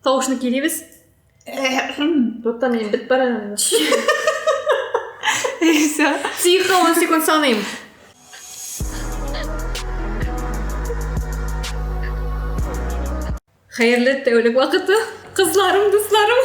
Тавышны килебез. Тотта мин бит бара. Исә. Тихо, он секунд саныйм. Хәерле тәүлек вакыты. Кызларым, дусларым.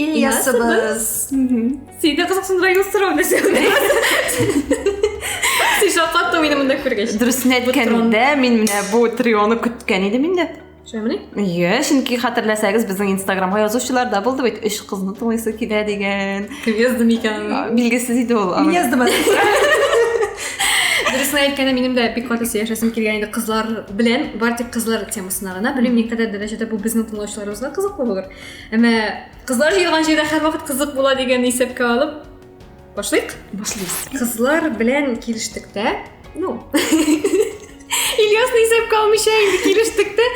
Ильясыбыз. Син дә кызыксындырайын сорау нәрсә. Син шакаттың мине монда күргәч. Дөресен әйткәндә, мин менә бу трионы көткән идем инде. Шәмли? Иә, чөнки хәтерләсәгез, безнең Инстаграмга язучылар да булды бит, өч кызны тыңлыйсы килә дигән. Кем язды микән? Билгесез иде ул. Мин яздым әле. Дөресен әйткәндә, минем дә бик каты сөйләшәсем килгән иде кызлар белән, бар тик кызлар темасына гына. Белмим, никадәр дәрәҗәдә бу безнең тыңлаучыларыбызга кызыклы булыр. Әмә кызлар җыелган җирдә һәрвакыт кызык була дигәнне исәпкә алып, башлыйк? Башлыйбыз. Кызлар белән килештек тә, ну, Ильясны исәпкә алмыйча инде килештек тә,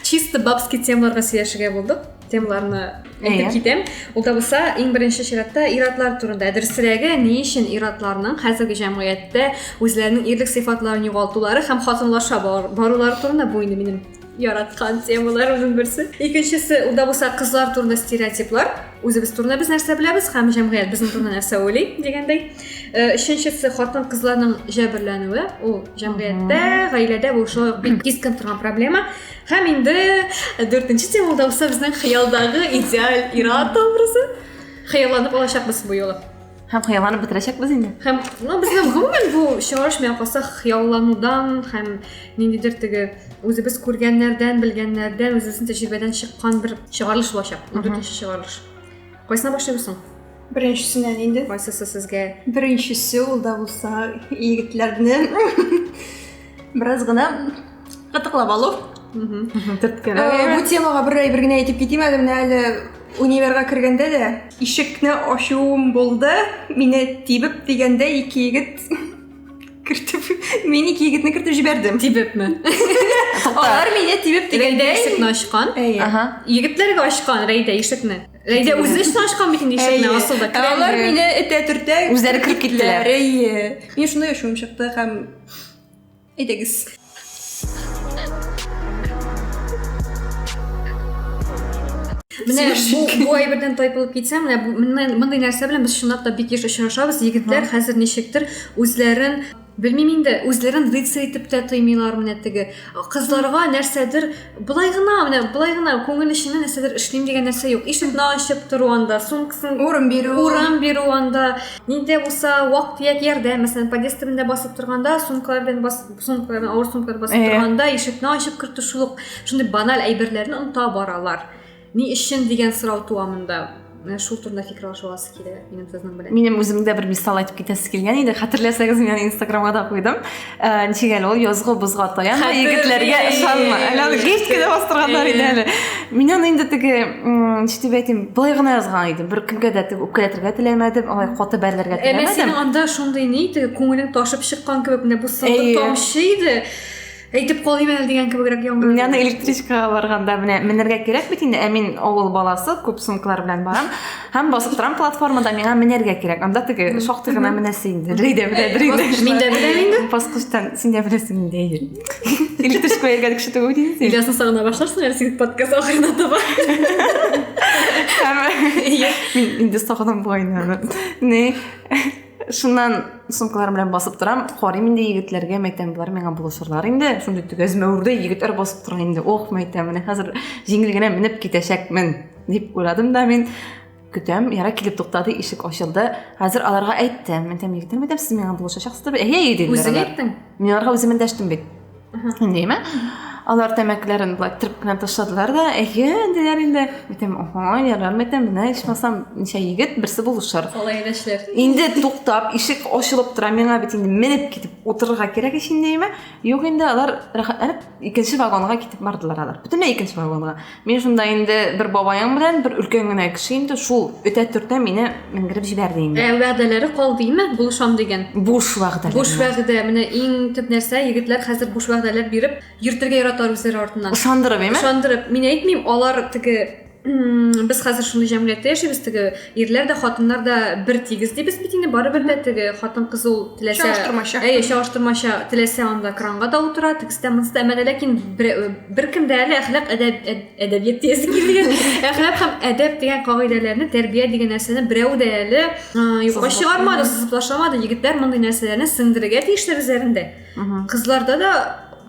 чисто бабский темаларга сөйләшергә булдык. Темаларны әйтеп китәм. Ул да булса, иң беренче чиратта ир-атлар турында. Дөресрәге, ни өчен ир-атларның хәзерге җәмгыятьтә үзләренең ирлек сыйфатларын югалтулары һәм хатынлаша барулары турында бу инде минем яраткан темалар уның берсе. Икенчесе, ул да булса кызлар турында стереотиплар. Үзебез турында без нәрсә беләбез һәм җәмгыять безнең турында нәрсә уйлый дигәндәй. Э, өченчесе, хатын кызларның җәберләнүе. Ул җәмгыятьтә, гаиләдә бу шул бик кискен торган проблема. Һәм инде дүртенче тема да булса безнең хыялдагы идеаль ир-ат образы. Хыялланып алачакбыз бу юлы. Һәм хыялланып бетерәчәкбез инде. Һәм, ну, безнең гомумән бу чыгарыш миңа калса хыялланудан һәм ниндидер теге үзебез күргәннәрдән, белгәннәрдән, үзебезнең тәҗрибәдән чыккан бер чыгарылыш булачак. Дүртенче чыгарылыш. Кайсына башлыйбыз соң? Беренчесеннән инде. Кайсысы сезгә? Беренчесе ул да булса егетләрне Бераз гына кытыклап алу. Төрткәләү. Э, бу темага бер әйбер генә әйтеп китим әле, менә әле универга кергәндә дә ишекне ачуым булды. Мине тибеп дигәндә ике егет кертеп, мин ике егетне кертеп җибәрдем. Тибепме? Алар мине тибеп дигәндә ишекне ачкан. Әйе. Егетләргә ачкан Рәйдә ишекне. Рәйдә үзе өчен ачкан бит инде ишекне асылда. Алар мине этә-төртә. Үзләре кереп киттеләр. Әйе. Мин шундый ачуым чыкты һәм Ей дегис. Менә бу, бу әйбердән тайпылып китсә, менә бу- менә мондый нәрсә белән без чынлап та бик еш очрашабыз. Егетләр хәзер ничектер үзләрен белмим инде, үзләрен рыцарь итеп тә тоймыйлар менә теге кызларга нәрсәдер былай гына менә былай гына күңел эченнән нәрсәдер эшлим дигән нәрсә юк ишекне ачып тору анда сумкасын урын бирү урын бирү анда нидә булса вак төяк ярдәм мәсәлән подъезд төбендә басып торганда сумкалар белән бас сумкалар белән авыр сумкалар басып торганда ишекне ачып кертү шул ук шундый баналь әйберләрне оныта баралар Ни өчен дигән сорау туа монда. Менә шул турында фикер алыша аласы килә минем сезнең белән. Минем үзем дә бер мисал әйтеп китәсе килгән иде. Хәтерләсәгез, мин аны Инстаграмга да куйдым. Э, ничек әле ул язгы бозга таянма, егетләргә ышанма. Әле аны геч кенә бастырганнар иде әле. Мин аны инде теге, ничек дип әйтим, былай гына язган идем. Бер кемгә дә теге үпкәләтергә теләмәдем, алай каты бәрелергә теләмәдем. Әмма синең анда шундый ни, теге күңелең ташып чыккан кебек, менә бу сылдыр тамчы иде. Әйтеп калыйм әле дигән кебегрәк яңгыр. Мин аны электричкага барганда менә менәргә кирәк бит инде, ә мин авыл баласы, күп сумкалар белән барам. Һәм басып торам платформада, миңа менәргә кирәк. Анда теге шактый гына менәсе инде. Рей дә белә, Рей дә. Мин дә беләм инде. Баскычтан син дә беләсең инде, әйе. Электричка йөргән кеше түгел дим. Илясын сагына башларсың әле син подкаст ахырына таба. Мин инде сагынам бугайны. Не? Шуннан сумкаларым белән басып торам, карыйм инде егетләргә, мәйтәм, болар миңа булышырлар инде. Шундый төгәзмәүрдә егетләр басып тора инде. Ох, мәйтәм, менә хәзер җиңел генә менеп китәчәкмен, дип уйладым да мин. Көтәм, яра килеп туктады, ишек ачылды. Хәзер аларга әйттем, мәйтәм, егетләр, мәйтәм, сез миңа булышачаксыз дип. Әйе, диделәр. Үзең әйттең? Мин аларга үзем эндәштем бит. Нәйме? Алар тәмәкләрен былай тырп кына ташладылар да, әйе, диләр инде. Әйтәм, ага, ярар, әйтәм, менә ичмасам, ничә егет, берсе булышыр. Алай дәшләр. Инде туктап, ишек ачылып тора, миңа бит инде менеп китеп утырырга кирәк ич инде, әйме? Юк инде, алар рәхәтләнеп икенче вагонга китеп бардылар алар. Бөтенләй икенче вагонга. Мин шунда инде бер бабаең белән бер өлкән генә кеше инде шул өтә төртә мине менгереп җибәрде инде. Ә вәгъдәләре кал димме, булышам дигән? Буш вәгъдә. Буш вәгъдә. Менә иң төп нәрсә, егетләр хәзер буш вәгъдәләр биреп йөртергә яраталар үзләре артыннан. Ышандырып, әйме? Ышандырып. Мин әйтмим, алар теге без хәзер шундый җәмгыятьтә яшибез, теге ирләр дә хатыннар да бер тигез дибез бит инде барыбер дә теге хатын кыз ул теләсә чагыштырмача әйе чагыштырмача теләсә анда кранга да утыра тегестә монсыда әмәдә ләкин беркем дә әле әхлак әдәбият диясе килгән әхлак һәм әдәп дигән кагыйдәләрне тәрбия дигән нәрсәне берәү дә әле юкка чыгармады сызып ташламады егетләр мондый нәрсәләрне сеңдерергә тиешләр үзләрендә кызларда да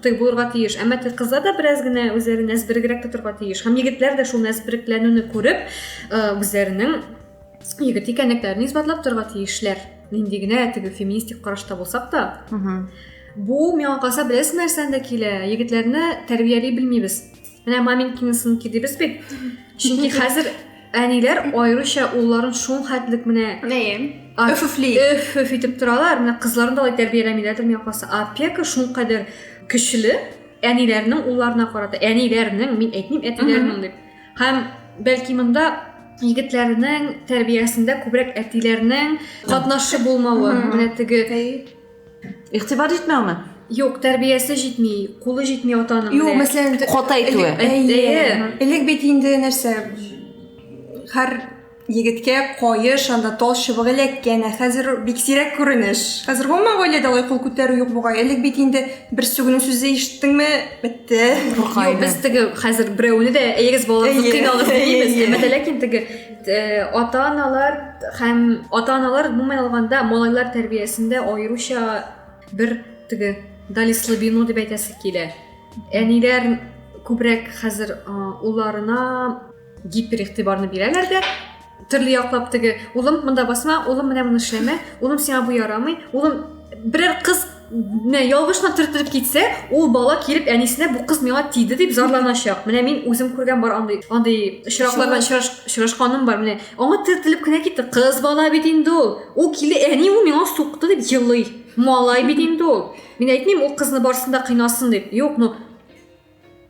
тый булырга тиеш әмма кызлар да бераз генә үзләрен нәзберегрәк тотарга тиеш һәм егетләр дә шул нәзберекләнүне күреп үзләренең егет икәнлекләрен исбатлап торырга тиешләр нинди генә теге феминистик карашта булсак та бу миңа калса беләсең нәрсәдән дә килә егетләрне тәрбияли белмибез менә маменькины сынки дибез бит чөнки хәзер әниләр аеруча улларын шул хәтлек менә өфөфли өфөф итеп торалар менә кызларын да алай тәрбияләмиләрдер миңа калса опека шул кадәр көчле әниләрнең улларына карата әниләрнең мин әйтмим әтиләрнең дип һәм бәлки монда егетләрнең тәрбиясендә күбрәк әтиләрнең катнашы булмавы менә теге игътибар җитмәүме Юк, тәрбиясе җитми, кулы җитми атаның. Юк, мәсәлән, кота әйтүе. Элек бит инде нәрсә? Һәр егеткә каеш, анда тал чыбыгы эләккән, ә хәзер бик сирәк күренеш. Хәзер гомумән гаиләдә алай кул күтәрү юк бугай. Элек бит инде бер сүгенү сүзе ишеттеңме, бетте. Юк, без теге хәзер берәүне дә әйегез балаларны кыйналыгыз димибез. Әмма ләкин теге Э, ата-аналар һәм ата-аналар гомумән алганда малайлар тәрбиясендә аеруча бер теге дали слабину дип әйтәсе килә. Әниләр күбрәк хәзер улларына гипер игътибарны бирәләр дә, төрле яклап теге улым монда басма, улым менә моны эшләмә, улым сиңа бу ярамый, улым берәр кыз менә ялгышына төртелеп китсә ул бала килеп әнисенә бу кыз миңа тиде дип зарланачак менә мин үзем күргән бар андый андый очракларда очрашканым бар менә аңа төртелеп кенә китте кыз бала бит инде ул ул килде әни ул миңа сукты дип елый малай бит инде ул мин әйтмим ул кызны барсын да кыйнасын дип юк ну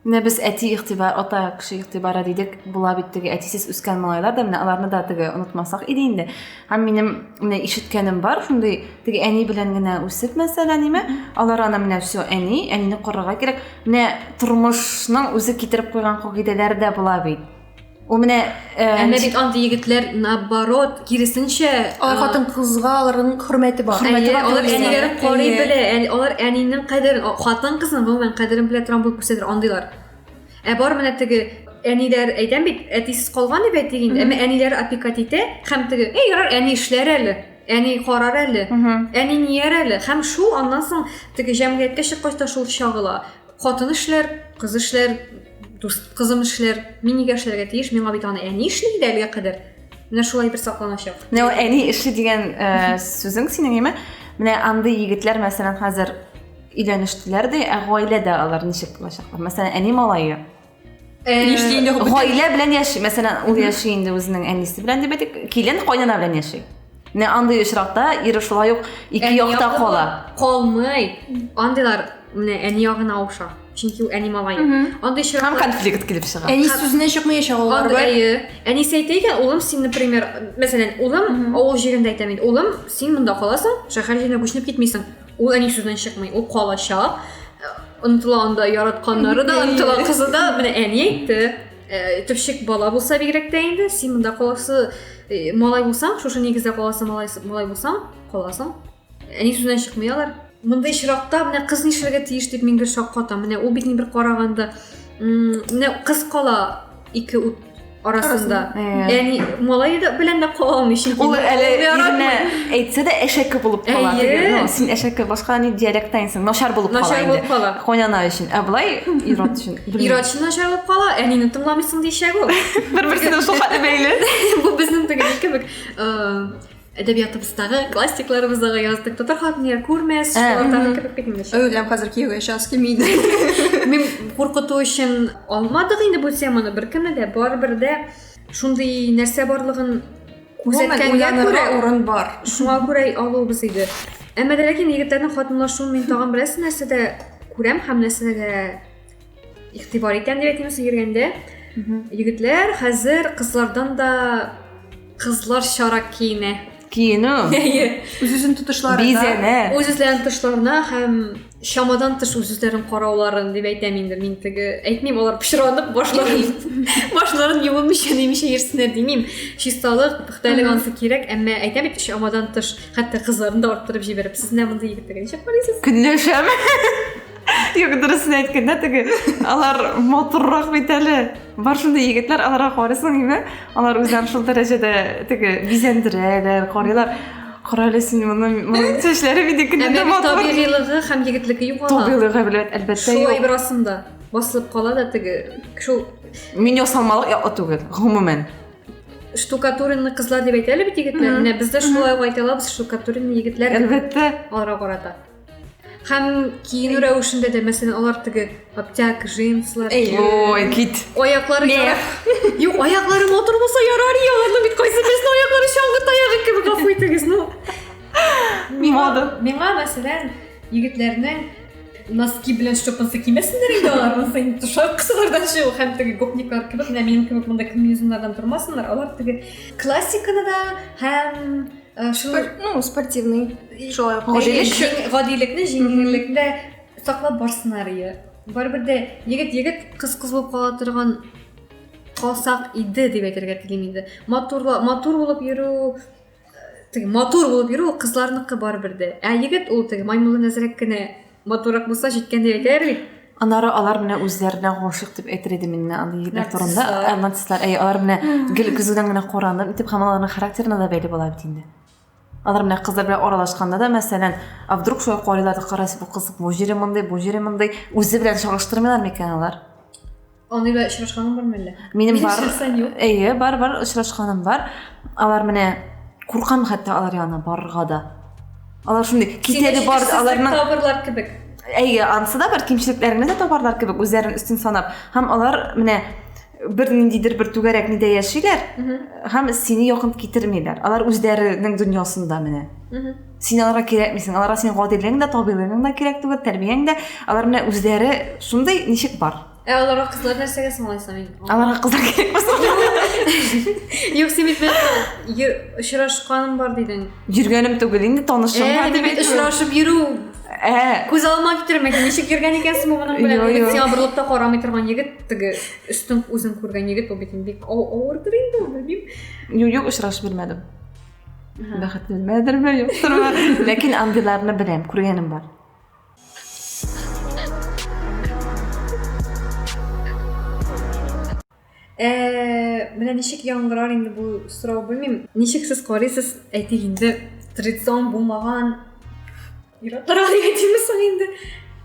Менә без әти игътибар, ата кеше игътибары дидек, була бит теге әтисез үскән малайлар да, менә аларны да теге онытмасак иде инде. Һәм минем менә ишеткәнем бар, шундый теге әни белән генә үсеп, мәсәлән, ниме, алар аны менә все, әни, әнине корырга кирәк. Менә тормышның үзе китереп куйган кагыйдәләре дә була бит. Ул менә Әмма бит андый егетләр наоборот, киресенчә, алар хатын кызга аларның хөрмәте бар. Хөрмәте бар. Алар әниләрен карый белә, алар әнинең кадерен, хатын кызның гомумән кадерен белә торган булып күрсәтер андыйлар. Ә бар менә теге әниләр әйтәм бит, әтисез калган дип әйтик инде, әмма әниләр опекать итә һәм теге, "Эй, ярар, әни эшләр әле" әни карар әле әни нияр әле һәм шул аннан соң теге җәмгыятькә чыккач та шул чагыла хатын эшләр кыз эшләр дус кызым эшләр мин нигә эшләргә тиеш миңа бит аны әни эшли иде әлегә кадәр менә шулай бер сакланачак менә ул әни эшли дигән э, сүзең синең яме менә андый егетләр мәсәлән хәзер өйләнештеләр дә ә гаиләдә алар ничек булачаклар мәсәлән әни малае Нишле инде бу? Гаилә белән яши. Мәсәлән, ул яши инде үзенең әнисе белән дип әйтик, килен кайнана белән яши. Менә андый очракта ир шулай ук ике якта кала. Калмый. Андыйлар менә әни ягына ауша. Чөнки ул әни малай. Андый очракта һәм конфликт килеп чыга. Әни сүзенә чыкмаячак ул. Әйе. Әнисе әйтә икән, улым, син, например, мәсәлән, улым авыл җирендә әйтәм инде. Улым, син монда каласың, шәһәр җиренә күченеп китмисең. Ул әни сүздән чыкмый, ул калачак. Онытыла анда яратканнары да, онытыла кызы да. Менә әни әйтте, э, төпчек бала булса бигрәк тә инде, син монда каласы э, малай булсаң, шушы нигездә каласы малай, малай булсаң, каласың. Әни сүздән чыкмый алар. Монда очракта менә кыз нишләргә тиеш дип мин гел шаккатам. Менә ул бит ни бер караганда, менә кыз кала ике ут арасында. Яни малай да белән дә кала алмый чөнки. Ул әле иренә әйтсә дә әшәке булып кала. Ну, син әшәке башка ни диалекттан инсең. Начар булып кала. Начар булып кала. Хонана өчен. Ә былай ират өчен. Ират өчен начар булып кала. Әнине тыңламыйсың дишәк ул. Бер-берсенә шул хәтле бәйле. Бу безнең теге кебек. әдәбиятыбыздагы классикларыбыздагы яздык татар хатын я күрмәс шулардан кереп китмеш әүләм хәзер кияүгә чыгасы килми иде мин куркыту өчен алмадык инде бу теманы беркемне дә барыбер дә шундый нәрсә барлыгын күрсәткәнгә күрә урын бар шуңа күрә алуыбыз иде әмма ләкин егетләрнең хатынлашуын мин тагын берәрсе нәрсәдә күрәм һәм нәрсәдә игътибар итәм дип әйтәмсең йөргәндә егетләр хәзер кызлардан да кызларчарак киенә киенү үз үзен тотышлары бизәнә үз үзләрен тотышларына һәм чамадан тыш үз үзләрен карауларын дип әйтәм инде мин теге әйтмим алар пычранып башларын башларын юылмыйча нимичә йөрсеннәр димим чисталык пөхтәлек анысы кирәк әмма әйтәм бит чамадан тыш хәтта кызларын да арттырып җибәреп сез менә мондый егетләргә ничек карыйсыз көнләшәме Юк, дөресен әйткәндә теге алар матуррак бит әле. Бар шундый егетләр, аларга карыйсың инде, алар үзләрен шул дәрәҗәдә теге бизәндерәләр, карыйлар. Кара әле син моны, моның чәчләре бит икенче дә матур. Табигыйлыгы һәм егетлеке юк ала. Табигыйлыгы белән әлбәттә юк. Шулай бер асында басылып кала да теге шул Мин ясалмалык яклы түгел, гомумән. Штукатуренный кызлар дип әйтә әле бит егетләр. Менә бездә шулай ук әйтә алабыз, штукатуренный егетләр. Әлбәттә. Аларга карата. Һәм киенү рәвешендә дә, мәсәлән, алар теге аптяк, джинслар. Ой, кит. Аяклары ярар. Юк, аяклары матур булса ярар, я, ну бит кайсы безнең аяклары чаңгы таягы кебек гафу итегез, ну. Миңа, миңа мәсәлән, егетләрнең носки белән шлепанцы кимәсеннәр инде алар, монысы инде тошар кысалардан чыгу һәм теге гопниклар кебек, менә минем кебек монда комбинезоннардан тормасыннар, алар теге классиканы да һәм э, шул ну спортивный шулай гадилекне җиңеллекне саклап барсыннар иә барыбер дә егет егет кыз кыз булып кала торган калсак иде дип әйтергә телим инде матурла матур булып йөрү э, теге матур булып йөрү ул кызларныкы барыбер дә ә егет ул теге маймылдан әзрәк кенә матуррак булса җиткәндәй әйтәләр бит анары алар менә үзләренә гашыйк дип әйтер идем мин менә андый егетләр турында ә, нацистлар әй алар менә гел көзгедән генә куранып итеп һәм аларның характерына да бәйле була бит инде алар менә кызлар белән аралашканда да мәсәлән а вдруг шулай карыйлар да карайсыз бу кыз бу җире мондый бу җире мондый үзе белән чагыштырмыйлар микән алар Аны да очрашканың бармы әллә? Минем бар. Әйе, бар, бар, очрашканым бар. Алар менә куркам хәтта алар янына барырга да. Алар шундый китәге бар, аларның табырлар кебек. Әйе, ансы да бар кимчелекләрне дә табарлар кебек, үзләрен өстен санап. Һәм алар менә бер ниндидер бер түгәрәк нидә яшиләр, һәм сине якын китермиләр. Алар үзләренең дөньясында менә. син аларга кирәкмисең аларга синең гадилегең дә табигыйлыгың да кирәк түгел тәрбияң дә алар менә үзләре шундый ничек бар ә аларга кызлар нәрсәгә соң алайса мин аларга кызлар кирәкме соң юк син бит очрашканым бар дидең йөргәнем түгел инде танышым э, бар дип очрашып йөрү ә күз алма китермә ничек йөргән икәнсең моның белән егет сиңа борылып та карамый торган егет теге өстең үзең күргән егет ул бит бик авырдыр инде ул белмим юк юк очрашып белмәдем бәхетленмәдерме юктырмы ләкин андыйларны беләм күргәнем бар менә ничек яңгырар инде бу сорау белмим ничек сез карыйсыз әйтик инде традицион булмаган Ир-атларга дип әйтимме соң инде?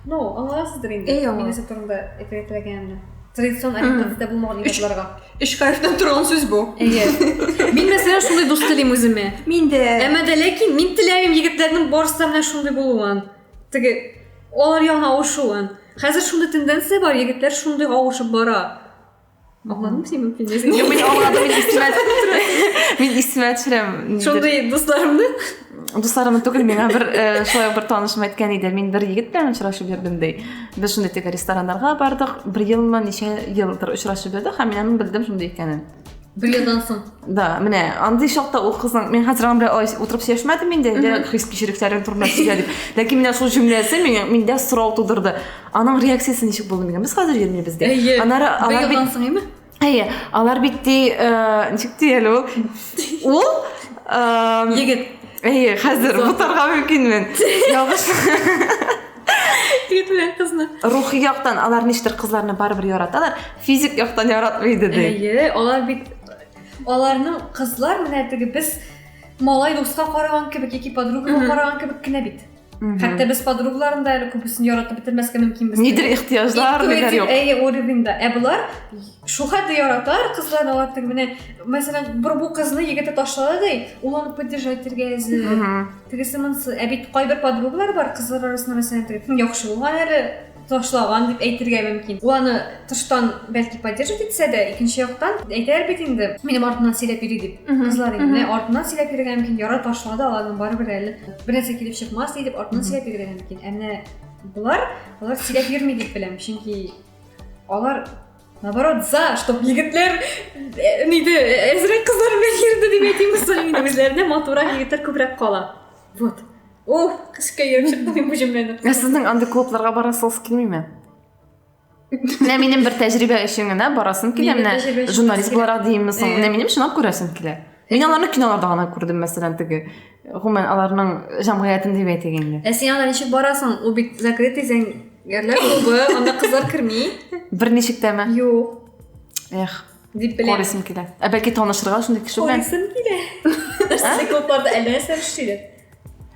Ну, аңласыздыр инде. Әй, аңлам. Мин нәрсә турында әйтергә теләгәнемне. Традицион ориентацияда булмаган ир-атларга. Өч хәрефтән торган сүз бу. Әйе. Мин мәсәлән шундый дус телим үземә. Мин дә. Әмма дә ләкин мин теләмим егетләрнең барысы да менә шундый булуын. Теге алар ягына авышуын. Хәзер шундый тенденция бар, егетләр шундый авышып бара. Аңладым син мөмкин дисең. Юк, мин аңладым, мин истемә Мин истемә төшерәм. Шундый дусларымны? Дусларымны түгел, миңа бер э, шулай бер танышым әйткән иде. Мин бер егет белән очрашып йөрдем ди. Без шундый теге рестораннарга бардык. Бер елмы, ничә елдыр очрашып йөрдек, һәм мин аны белдем шундый икәнен. Бер елдан соң. Да, менә андый чакта ул кызның мин хәзер аны белән утырып сөйләшмәдем инде, хис кичерекләрен турында сөйләдек. Ләкин менә шул җөмләсе миндә сорау тудырды. Аның реакциясе ничек булды мигә? Без хәзер йөрмибез дә. Әйе. Анары алар бит соң име? Әйе. Алар бит ди, э, ничек ди әле ул? Ул э, егет. Әйе, хәзер бутарга мөмкинмен. Ялгыш. Егет белән кызны. Рухи яктан алар ништер кызларны барыбер яраталар, физик яктан яратмый иде ди. Әйе, алар бит аларның кызлар менә теге без малай дуска караган кебек яки подругага караган кебек кенә бит. Хәтта без подругаларым да әле күбесен яратып бетермәскә мөмкин без. Нидер ихтияҗлар, нидер юк. Әйе, уровеньда. Ә булар шул хәтле яратар кызлар алар тиң менә, мәсәлән, бер бу кызны егете ташлады ди, ул аны поддержать итәргә әзер. Тегесе монсы. Ә бит кайбер подругалар бар, кызлар арасында мәсәлән, яхшы булган әле, ташлаган дип әйтергә мөмкин. Ул аны тыштан бәлки поддерживать итсә дә, икенче яктан әйтәләр бит инде, минем артымнан сөйләп йөри дип, кызлар инде. Менә артыннан сөйләп йөрергә мөмкин, ярар ташлады, аларның барыбер әле бернәрсә килеп чыкмас ди дип артыннан сөйләп йөрергә мөмкин. Ә менә болар, алар сөйләп йөрми дип беләм, чөнки алар наоборот за, чтоб егетләр э, нидә э, әзрәк кызлар белән йөрде дип әйтим, үзләренә матурак егетләр күбрәк кала. Вот. Уф, кышка йөреп чыктым мин бу җөмләне. Ә сезнең андый клубларга барасыгыз килмиме? Менә минем бер тәҗрибә өчен генә барасым килә. Менә журналист буларак димме соң? Менә минем чынлап күрәсем килә. Мин аларны киноларда гына күрдем, мәсәлән, теге гомумән аларның җәмгыятен дип әйтик инде. Ә син анда ничек барасың? Ул бит закрытый зәңгәрләр клубы, анда кызлар керми. Берничек тәме? Юк. Эх, Дип беләм. Корисым килә. Ә бәлки танышырга шундый кеше белән? Корисым килә. Нәрсә күп барда әллә нәрсә эшлиләр.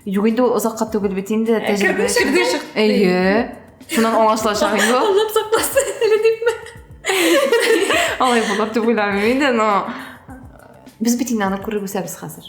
Юк инде ул озакка түгел бит инде. Ә, тәҗрибә. Кердең чык. Әйе. Шуннан аңлашылачак инде ул. Аллам сакласын әле дипме? Алай булыр дип уйламыйм инде, но без бит инде аны күреп үсәбез хәзер.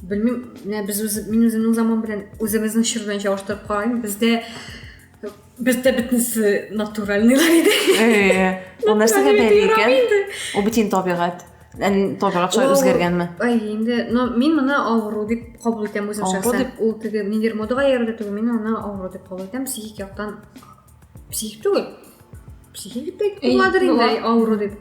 Белмим, менә без үз мин үземнең заман белән үзебезнең чор белән чагыштырып карыйм. Бездә бездә бөтенесе натуральныйлар иде. Э, ул нәрсәгә бәйле икән? Ул бөтен табигать. Табигать шулай үзгәргәнме? Ай, инде, но мин моны авыру дип кабул итәм үзем шәхсән. Ул теге нидер модага иярде түгел, мин аны авыру дип кабул итәм. Психик яктан психик түгел психик дип буладыр инде авыру дип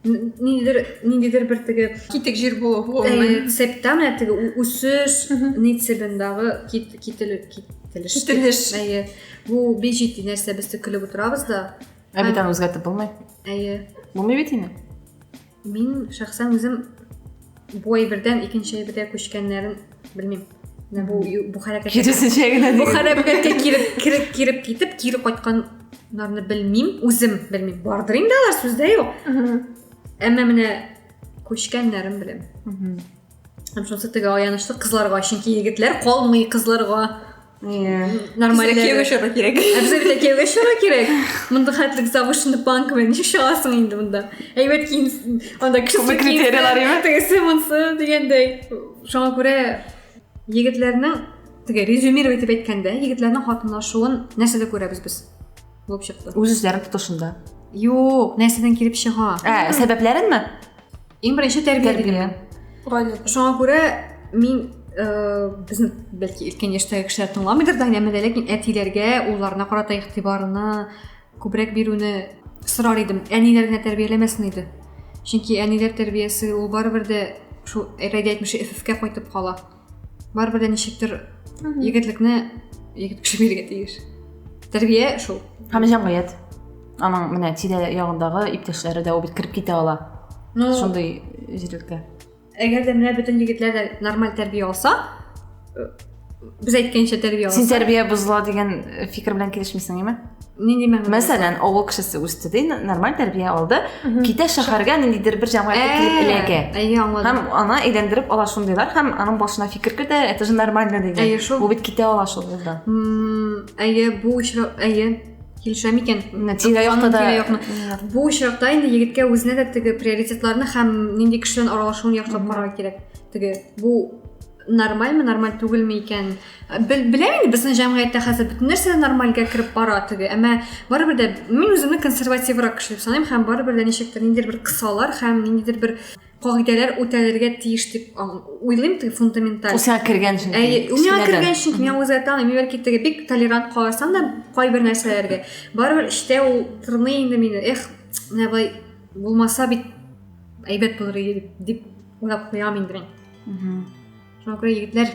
ниндидер ниндидер бер теге китек җир булу гомумән септам менә теге үсеш нитсебендагы кителеш кителеш әйе бу бик җитди нәрсә без тик көлеп утырабыз да ә бит аны үзгәртеп булмый әйе булмый бит инде Мин шәхсән үзем бу әйбердән икенче әйбергә күчкәннәрен белмим. Менә бу бу хәрәкәткә киресенчә генә бу хәрәкәткә киреп киреп киреп китеп кире кайтканнарны белмим, үзем белмим. Бардыр инде алар сүздә юк. Әмма менә күчкәннәрен беләм. Һәм шунысы теге аянычлы кызларга, чөнки егетләр калмый кызларга. Иә. Нормально кияүгә чора кирәк. Обязательно кияүгә чора кирәк. Монда хәтлек завышенный планк белән ничек чыгасың инде монда? Әйбәт киен, анда кеше критерийлар име? Тегесе монсы дигәндәй. Шуңа күрә егетләрнең теге резюмировать итеп әйткәндә, егетләрнең хатынлашуын нәрсәдә күрәбез без? Булып чыкты. Үз-үзләрен тотышында. Юк, нәрсәдән килеп чыга? Ә, сәбәпләренме? Иң беренче тәрбия бирә. Гаилә. Шуңа күрә мин э, безне бәлки өлкән яшьтәге кешеләр тыңламыйдыр да, әмма ләкин әтиләргә, улларына карата игътибарны күбрәк бирүне сорар идем. Әниләр генә тәрбияләмәсен иде. Чөнки әниләр тәрбиясе ул барыбер дә шул Рәйдә әйтмешли ФФК кайтып кала. барыбер дә ничектер егетлекне егет кеше бирергә тиеш тәрбия шул һәм җәмгыять аның менә тирә ягындагы иптәшләре дә ул бит кереп китә ала ну шундый җирлеккә әгәр дә менә бөтен егетләр дә нормаль тәрбия алса э, без әйткәнчә тәрбия алса син тәрбия бозыла дигән э, фикер белән килешмисең әйме нинди мәгънәдә мәсәлән авыл кешесе үсте ди нормаль тәрбия алды китә шәһәргә ниндидер бер җәмгыятькә килеп э, эләгә әйе аңладым һәм аны әйләндереп ала шундыйлар һәм аның башына фикер керде это же нормально дигән әйе шул бу бит китә ала шул юлдан әйе бу очрак әйе килешәм икән тирә якта да бу очракта инде егеткә үзенә дә теге приоритетларны һәм нинди кеше белән аралашуын яхшылап карарга кирәк теге бу нормальмы нормаль түгелме икән беләм инде безнең җәмгыятьтә хәзер бөтен нәрсә нормальгә кереп бара теге әмма барыбер дә мин үземне консервативрак кеше дип саныйм һәм барыбер дә ничектер ниндидер бер кысалар һәм ниндидер бер кагыйдәләр үтәлергә тиеш дип уйлыйм теге фундаменталь ул сиңа кергән өчен әйе ул миңа кергән өчен мин үзгә таныйм бәлки теге бик толерант карасам да кайбер нәрсәләргә барыбер эчтә ул тырный инде мине эх менә былай булмаса бит әйбәт булыр иде дип уйлап куям инде мин шуңа күрә егетләр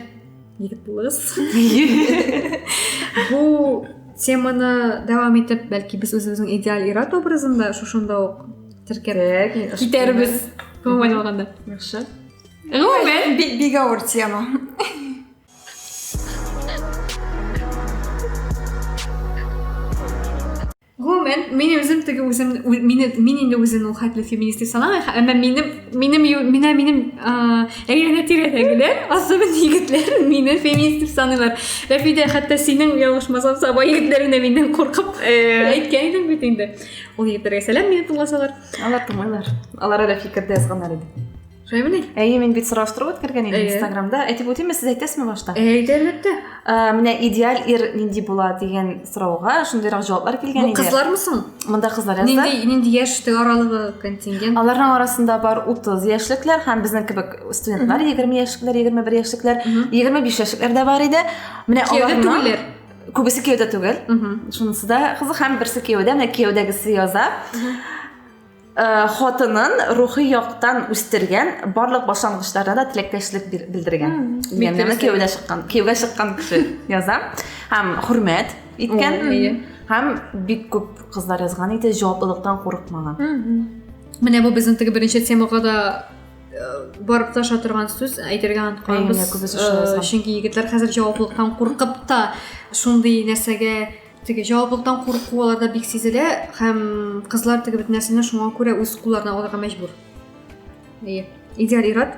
егет булыгыз бу теманы дәвам итеп бәлки без үзебезнең идеаль ир-ат образын да шушында ук теркәп китәрбез гомумән алганда яхшы гомумән бик авыр тема Гомумән, мин үзем теге үзем мин мин инде үзем ул хәтле феминист дип санамыйм, әмма минем минем менә минем әйләнә тирәдәгеләр, особенно егетләр мине феминист дип саныйлар. Рәфидә, хәтта синең ялгышмасам, Саба егетләрен дә миннән куркып э. әйткән идең бит инде. Ул егетләргә сәлам мине тыңласалар. Алар тыңлыйлар. Алар әле фикердә язганнар иде. Шәймени? Әйе, мин бит сораштыру үткәргән идем Инстаграмда. Әйтеп үтимме, сез әйтәсезме башта? Әйт, әлбәттә. Менә идеаль ир нинди була дигән сорауга шундыйрак җаваплар килгән иде. Бу кызлармы соң? Монда кызлар язды. Нинди, нинди яшь аралыгы контингент? Аларның арасында бар 30 яшьлекләр һәм безнең кебек студентлар 20 яшьлекләр, 21 яшьлекләр, 25 яшьлекләр дә бар иде. Менә аларның күбесе кияүдә түгел. Шунысы да кызык һәм берсе кияүдә, менә кияүдәгесе яза. Э, хатынын рухи яктан үстергән барлык башлангычларына да теләктәшлек белдергән дигәнне кияүгә чыккан кияүгә чыккан кеше яза һәм хөрмәт иткән һәм бик күп кызлар язган иде җаваплылыктан курыкмаган менә бу безнең теге беренче темага да э, барып таша торган сүз әйтергә онытканбыз э, чөнки егетләр хәзер җаваплылыктан куркып та шундый нәрсәгә теге җаваплылыктан курку аларда бик сизелә һәм кызлар теге бит нәрсәне шуңа күрә үз кулларына алырга мәҗбүр әйе идеаль ират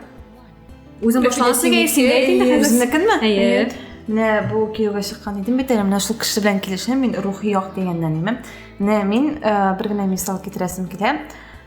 үзең башланасы үзенекенме әйе менә бу кияүгә чыккан идем бит әле менә шул кеше белән килешәм мин рухи як дигәннән имем менә мин бер генә мисал китерәсем килә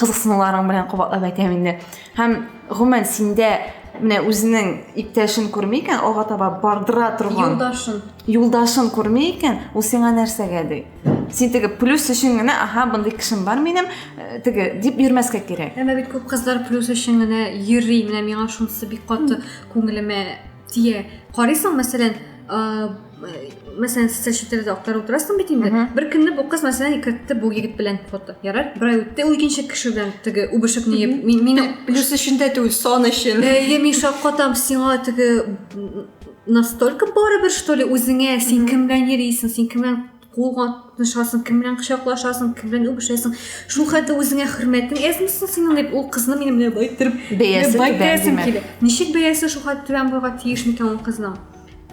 кызыксынуларың белән кабатлап әйтәм инде һәм гомумән синдә менә үзенең иптәшен күрми икән алга таба бардыра торган юлдашын юлдашын күрми икән ул сиңа нәрсәгә ди син теге плюс өчен генә аһа мондый кешем бар минем э, теге дип йөрмәскә кирәк әмма бит күп кызлар плюс өчен генә йөри менә миңа шунысы бик каты күңелемә тия карыйсың мәсәлән мәсәлән социаль челтәрдә актарып утырасың бит инде бер көнне бу кыз мәсәлән икертте бу егет белән фото ярар бер ай үтте ул икенче кеше белән теге үбешеп не мине плюс өчен дә түгел сон өчен әйе мин шаккатам сиңа теге настолько барыбер что ли үзеңә син кем белән йөрисең син кем белән кул катнашасың, кем белән кочаклашасың, кем белән үбешәсең. Шул хәтта үзеңә хөрмәтең әзмисең синең дип ул кызны минем белән байтырып бәясе байтырасым килә. Ничек бәясе шул хәтта түбән булырга тиеш микән ул кызның?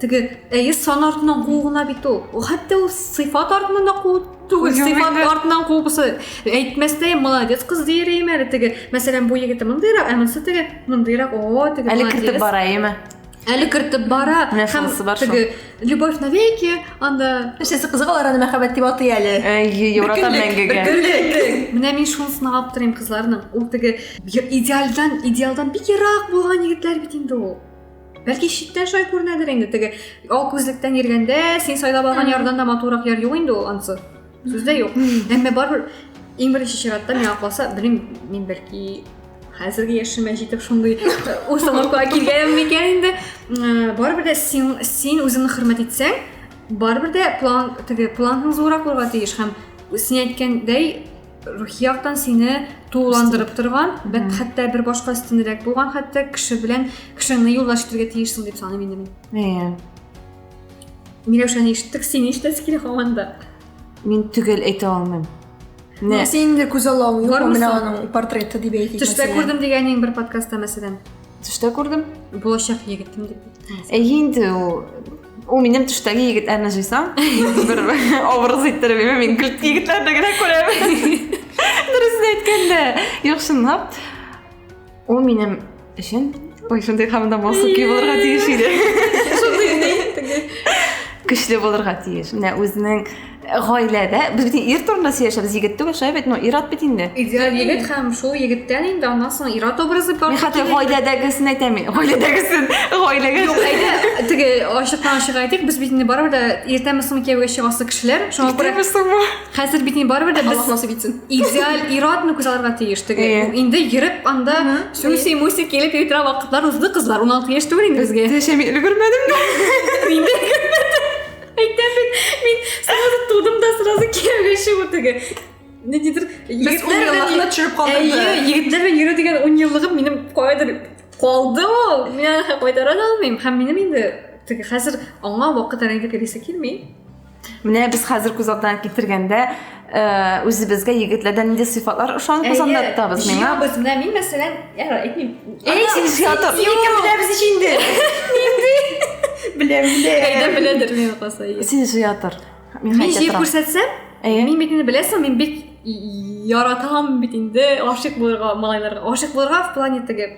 Теге әйе сан артыннан куу гына бит ул. Ул хәтта ул сыйфат артыннан да куу түгел, сыйфат артыннан куу булса әйтмәстәй молодец кыз дияр идем әле теге. Мәсәлән, бу егете мондыйрак, ә монысы теге мондыйрак. О, теге Әле кертеп бараеме? әле кертеп бара һәм теге любовь навеки анда нәрсәсе кызык алар аны мәхәббәт дип атый әле евротан мәңгегә менә мин шуны сынап аптырыйм кызларны ул теге идеалдан идеалдан бик ерак булган егетләр бит инде ул бәлки читтән шулай күренәдер инде теге ал күзлектән йөргәндә син сайлап алган ярдан да матуррак яр юк инде ул анысы Сүз дә юк. Әмма барыбер иң беренче чиратта миңа калса, белмим, мин бәлки хәзерге яшемә җитеп шундый установкага килгәнем микән инде. Барыбер дә син син үзеңне хөрмәт итсәң, барыбер дә план теге планың зуррак булырга тиеш һәм син әйткәндәй рухи яктан сине тулыландырып торган бәт хәтта бер башка өстенрәк булган хәтта кеше белән кешеңне юллаш итәргә тиешсең дип саныйм инде мин миләүшәне ишеттек син нишләсе килә һаман да мин төгәл әйтә алмыйм Менә синең дә күз аллавың юк менә аның портреты дип әйтик төштә күрдем дигәнең бер подкастта мәсәлән төштә күрдем булачак егетем дип әйе инде ул ул минем төштәге егет әмә җыйсам бер образ иттереп имә мин көлт егетләрне генә күрәм дөресен әйткәндә юк чынлап Ул минем өчен ой шундый хамда басып ки булырга тиеш иде шундый ни көчле булырга тиеш менә үзенең гаиләдә без бит ир турында сөйләшәбез егет түгел шулай бит ну ир-ат бит инде идеаль егет һәм шул егеттән инде аннан соң ир-ат образы бар мин хәтта гаиләдәгесен әйтәм мин гаиләдәгесен гаиләгә юк әйдә теге ачыктан ачык әйтик без бит инде барыбер дә иртәме соңмы кияүгә чыгасы кешеләр шуңа күрә иртәме соңмы Хәзер бит мин барыбер дә без Аллаһ насыйп итсен. идеаль ир-атны күз алырга тиеш теге. Әйе. Ул Инде йөреп анда Мгм. сүси муси килеп йөри торган вакытлар узды кызлар. 16 яшь түгел инде безгә. Тешә мин өлгермәдем дә. Инде әйтәм бит, мин сразу тудым да сразу кияүгә чыгу теге. Ниндидер Без ун еллыкны төшереп Әйе, калдырды. егетләр белән йөрү дигән 10 еллыгым минем кайдыр калды ул. Мин аны кайтара да алмыйм. Һәм минем инде теге хәзер аңа вакыт әле инде керәсе килми. Менә без хәзер күз алдына китергәндә, үзебезгә егетләрдән нинди сыйфатлар ошан кузанда тотабыз миңа? Җыябыз, менә мин мәсәлән, яра, әйтмим. Әй, син җыятыр. Юк, беләбез ич инде. Беләм, беләм. Кайда беләдер мин каса. Син җыятыр. Мин җыеп күрсәтсәм, мин бит инде беләсең, мин бит яратам бит инде, гашыйк булырга малайларга. Гашыйк булырга в плане теге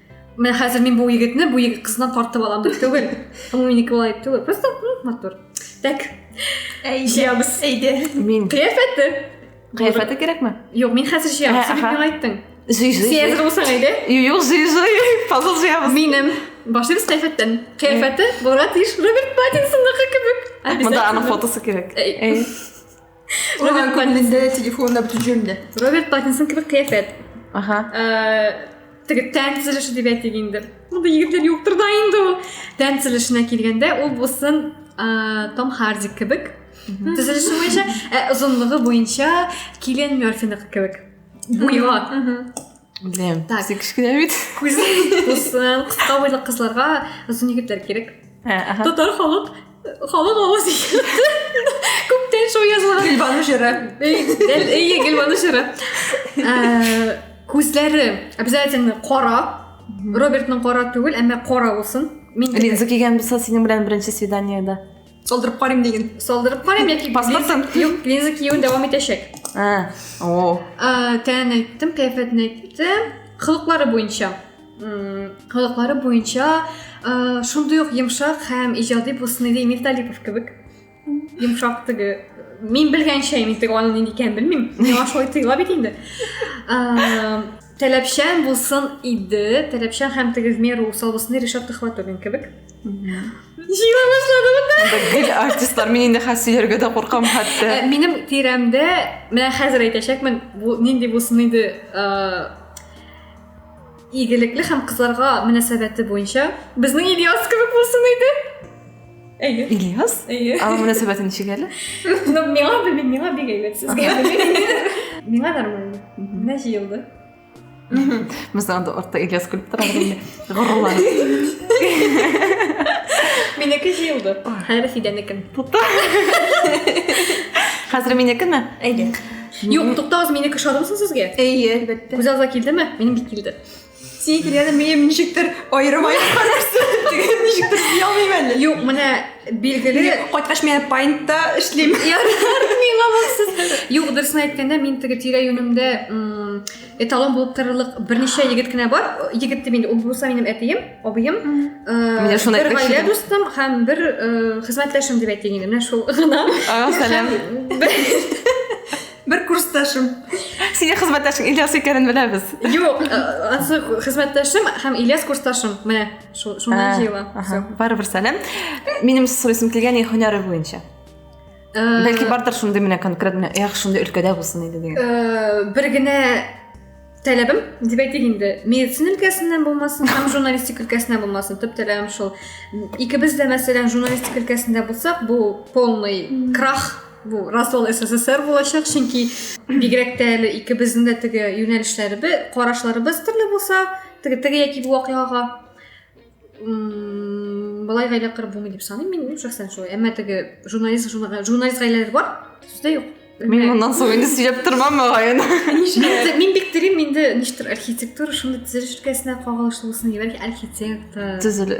мен хәзер мин бу егетне бу егет кызыннан тартып алам дип түгел ул минеке болай дип түгел просто матур так җыябыз әйдә мин кыяфәте кыяфәте кирәкме юк мин хәзер җыям син миңа айттың жый жый син әзер булсаң әйдә юк жый жый пазл җыябыз минем башлыйбыз кыяфәттән кыяфәте булырга тиеш роберт паттинсонныкы кебек монда аның фотосы кирәк Роберт Паттинсон. телефонда бөтен җирендә. Роберт Паттинсон кебек кыяфәт. Ага. Э, Теге тән төзелеше дип әйтик инде. Монда егетләр юктыр да инде ул. Тән төзелешенә килгәндә ул булсын э, Том Харди кебек. Төзелеше буенча, ә озынлыгы буенча Киллиан Мерфиныкы кебек. Буйга. Беләм. Так. Син кечкенә бит. Күзлек булсын. Кыска буйлы кызларга озын егетләр кирәк. Татар халык халык авыз күптән шул язылган. Гөлбану җыры. Әйе, Гөлбану җыры. Күзләре обязательно кара. Робертның кара түгел, әмма кара булсын. Мин линза кигән булса, синең белән беренче свиданиедә. Салдырып карыйм диген. Салдырып карыйм яки паспортын. Юк, линза киюен дәвам итәчәк. Ә, о. Ә, тән әйттем, кәйфәтен әйттем. Кылыклары буенча. Кылыклары буенча ә, шундый ук йомшак һәм иҗади булсын иде Эмиль Талипов кебек. Йомшак теге мин белгәнчә мин теге аның нинди икәнен белмим. Миңа шулай тоела бит инде. Ә, таләпчән булсын иде, таләпчән һәм тегезмер усал булсын Ришат Төхвәтуллин кебек. Җыела башладымы да? Гел артистлар, мин инде хәс сөйләргә дә куркам хәтта. Э, минем тирәмдә, менә хәзер әйтәчәкмен, бу нинди булсын иде, э, игелекле һәм кызларга мөнәсәбәте буенча безнең Ильяс кебек булсын иде. Әйе. Ильяс? Әйе. Аңа мөнәсәбәте ничек әле? Ну, миңа белмим, миңа бик әйбәт сезгә. Миңа нормально. Менә җыелды. Без анда артта Ильяс көлеп тора инде. Горурланып. Минеке җыелды. Хәзер Фидәнекен. Тукта. Хәзер минекеме? Әйе. Юк, туктагыз, минеке шарымсыз сезгә? Әйе, әлбәттә. Күз алдына килдеме? Минем бик килде. Синең килгәнен минем ничектер аерым аерым карарсың. Ничектер, я алмыйм әле. Юк, менә Билгеле. Инде кайткач мин паинтта эшлим. Ярар, миңа булсын. Юк, дөресен әйткәндә, мин теге тирә-юнемдә эталон булып торырлык берничә егет кенә бар. Егет дип инде, ул булса минем әтием, абыем, Менә шуны бер гаилә дустым һәм бер хезмәттәшем дип әйтик инде. Менә шул гына. Сәлам. Бер курсташым. Синең хезмәттәшең Ильяс икәнен беләбез. Юк, ансы хезмәттәшем һәм Ильяс курсташым. Менә. шундай җыела барыбер сәлам минем сорыйсым килгән ин һөнәре буенча э, бәлки бардыр шундый менә конкретно эх шундый өлкәдә булсын иде дигән э, бер генә таләбем деп әйтик инде медицина өлкәсеннән булмасын һәм журналистика өлкәсеннән булмасын төп таләбем шул икебез дә мәсәлән журналистика өлкәсендә булсак бу полный крах бу рассол ссср булачак чөнки бигрәк тә әле икебезнең дә теге юнәлешләребез карашларыбыз төрле булса теге яки бу вакыйгага былай гаилә корып булмый дип саныйм мин мин шәхсән шулай әмма теге журналист журналист гаиләләр бар сүздә юк мин моннан соң инде сөйләп тормам мөгаен мин бик телим инде ништер архитектура шундый төзелеш өлкәсенә кагылышлы булсын бәлки архитектор төзеле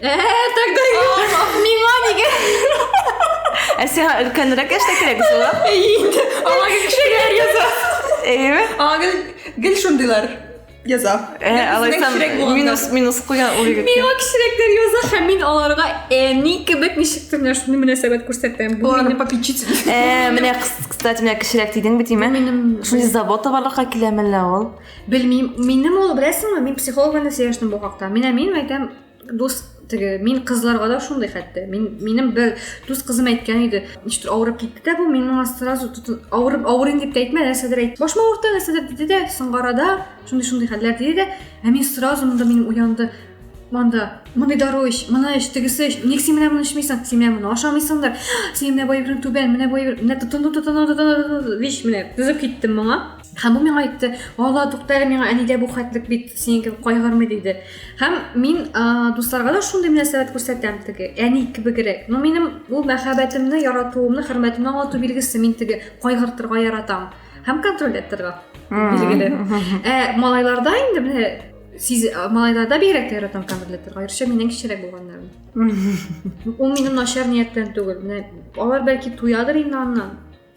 Э, так да миңа диген. Ә сиңа өлкәнрәк яшьтә кирәк була? Инде аңа гел кешеләр яза. Әйеме? Аңа гел гел шундыйлар яза. Ә, Гел бездән алайсам, кечерәк булганнар. Э, минус, минус куйган ул егет. Миңа кешерәкләр яза һәм мин аларга әни кебек ничектер менә шундый мөнәсәбәт күрсәтәм. Бу Оларны минем попечитель. Ә, менә, кс- кстати, менә кешерәк дидең бит, име? Шундый забота барлыкка килә мәллә ул. Белмим, минем ул беләсеңме, мин психологка да сөйләштем бу хакта. Менә мин әйтәм, дус теге мин кызларга да шундый хәтта мин минем бер дус кызым әйткән иде ничектер авырып китте дә бу мин моңа сразу авырып авырыйм дип тә әйтмә нәрсәдер әйт башыма авырта нәрсәдер диде дә соңгы арада шундый шундый хәлләр диде дә ә мин сразу монда минем уянды монда моны дару эч моны эч тегесе эч ник син менә моны эчмисең син менә моны ашамыйсың да син менә бай түбән менә бай менә тотынды тотынды тотынды вич менә тезеп киттем моңа Һәм бу миңа әйтте, "Алла, тукта әле миңа әнидә бу хәтлек бит, синең кебек кайгырмый" диде. Һәм мин дусларга да шундый мөнәсәбәт күрсәтәм теге, әни кебегрәк. Но минем бу мәхәббәтемне, яратуымны, хөрмәтемне аңлату билгесе, мин теге кайгыртырга яратам һәм контроль иттерга билгеле. Ә малайларда инде менә сиз малайларда бигрәк тә яратам контроль иттерга, аеруча миннән кечерәк булганнарын. Ул минем начар нияттән түгел. Менә алар бәлки туядыр инде аннан.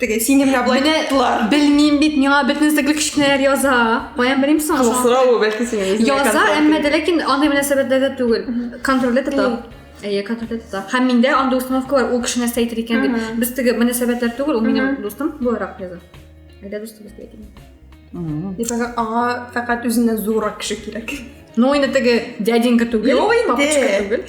Теге сине менә болай тылар. Белмим бит, миңа бөтен инстаграм кечкенәләр яза. Каян белим соң? Кызыл сорау бәлки синең үзеңә. Яза, әмма дә ләкин андый мөнәсәбәтләрдә түгел. Контрольдә тота. Әйе, контрольдә тота. Һәм миндә андый установка бар, ул кеше нәрсә әйтер икән дип. Без теге мөнәсәбәтләр түгел, ул минем дустым буларак яза. Әйдә дустыбыз дип әйтим. Дип аңа фәкать үзеннән зуррак кеше кирәк. Ну, инде теге дяденька түгел, папочка түгел.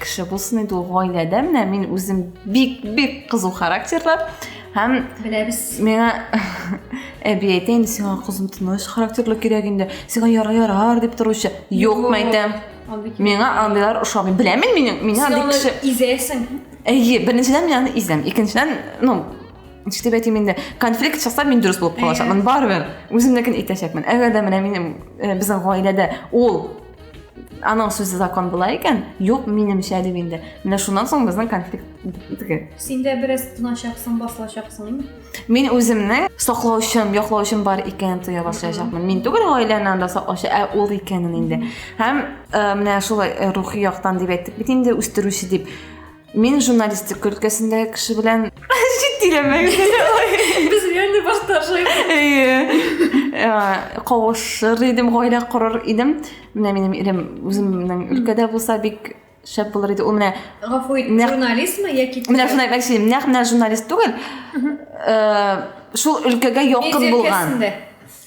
кеше булсын иде ул гаиләдә менә мин үзем бик бик кызу характерлы һәм беләбез миңа әби әйтә инде сиңа кызым тыныч характерлы кирәк инде сиңа ярар ярар дип торучы юкмы әйтәм миңа андыйлар ошамый беләм мин миңа миңа андый кеше изәсең әйе беренчедән мин аны изәм икенчедән ну ничек әйтим инде конфликт чыкса мин дөрес булып калачакмын барыбер үземнекін әйтәчәкмен әгәр дә менә минем э, безнең гаиләдә ул аның сүзе закон була икән юк минемчә дип инде менә шуннан соң безнең конфликт бетте син дә бераз тыначаксың басылачаксың мин үземне саклаучым яклаучым бар икәнен тоя башлаячакмын мин түгел гаиләне анда саклаучы ә ул икәнен инде һәм э, менә шулай э, рухи яктан дип әйттек бит инде үстерүче дип Мин журналистика өлкәсендәге кеше белән Читиләмәгез. Без реально баштаршыйбыз. Әйе. Кавышыр идем, гаилә корыр идем. Менә минем ирем үземнең өлкәдә булса бик шәп булыр иде. Ул менә Гафу ит, журналистмы яки Менә шуны әйтмәкче идем. Нәкъ менә журналист түгел. Э, шул өлкәгә якын булган.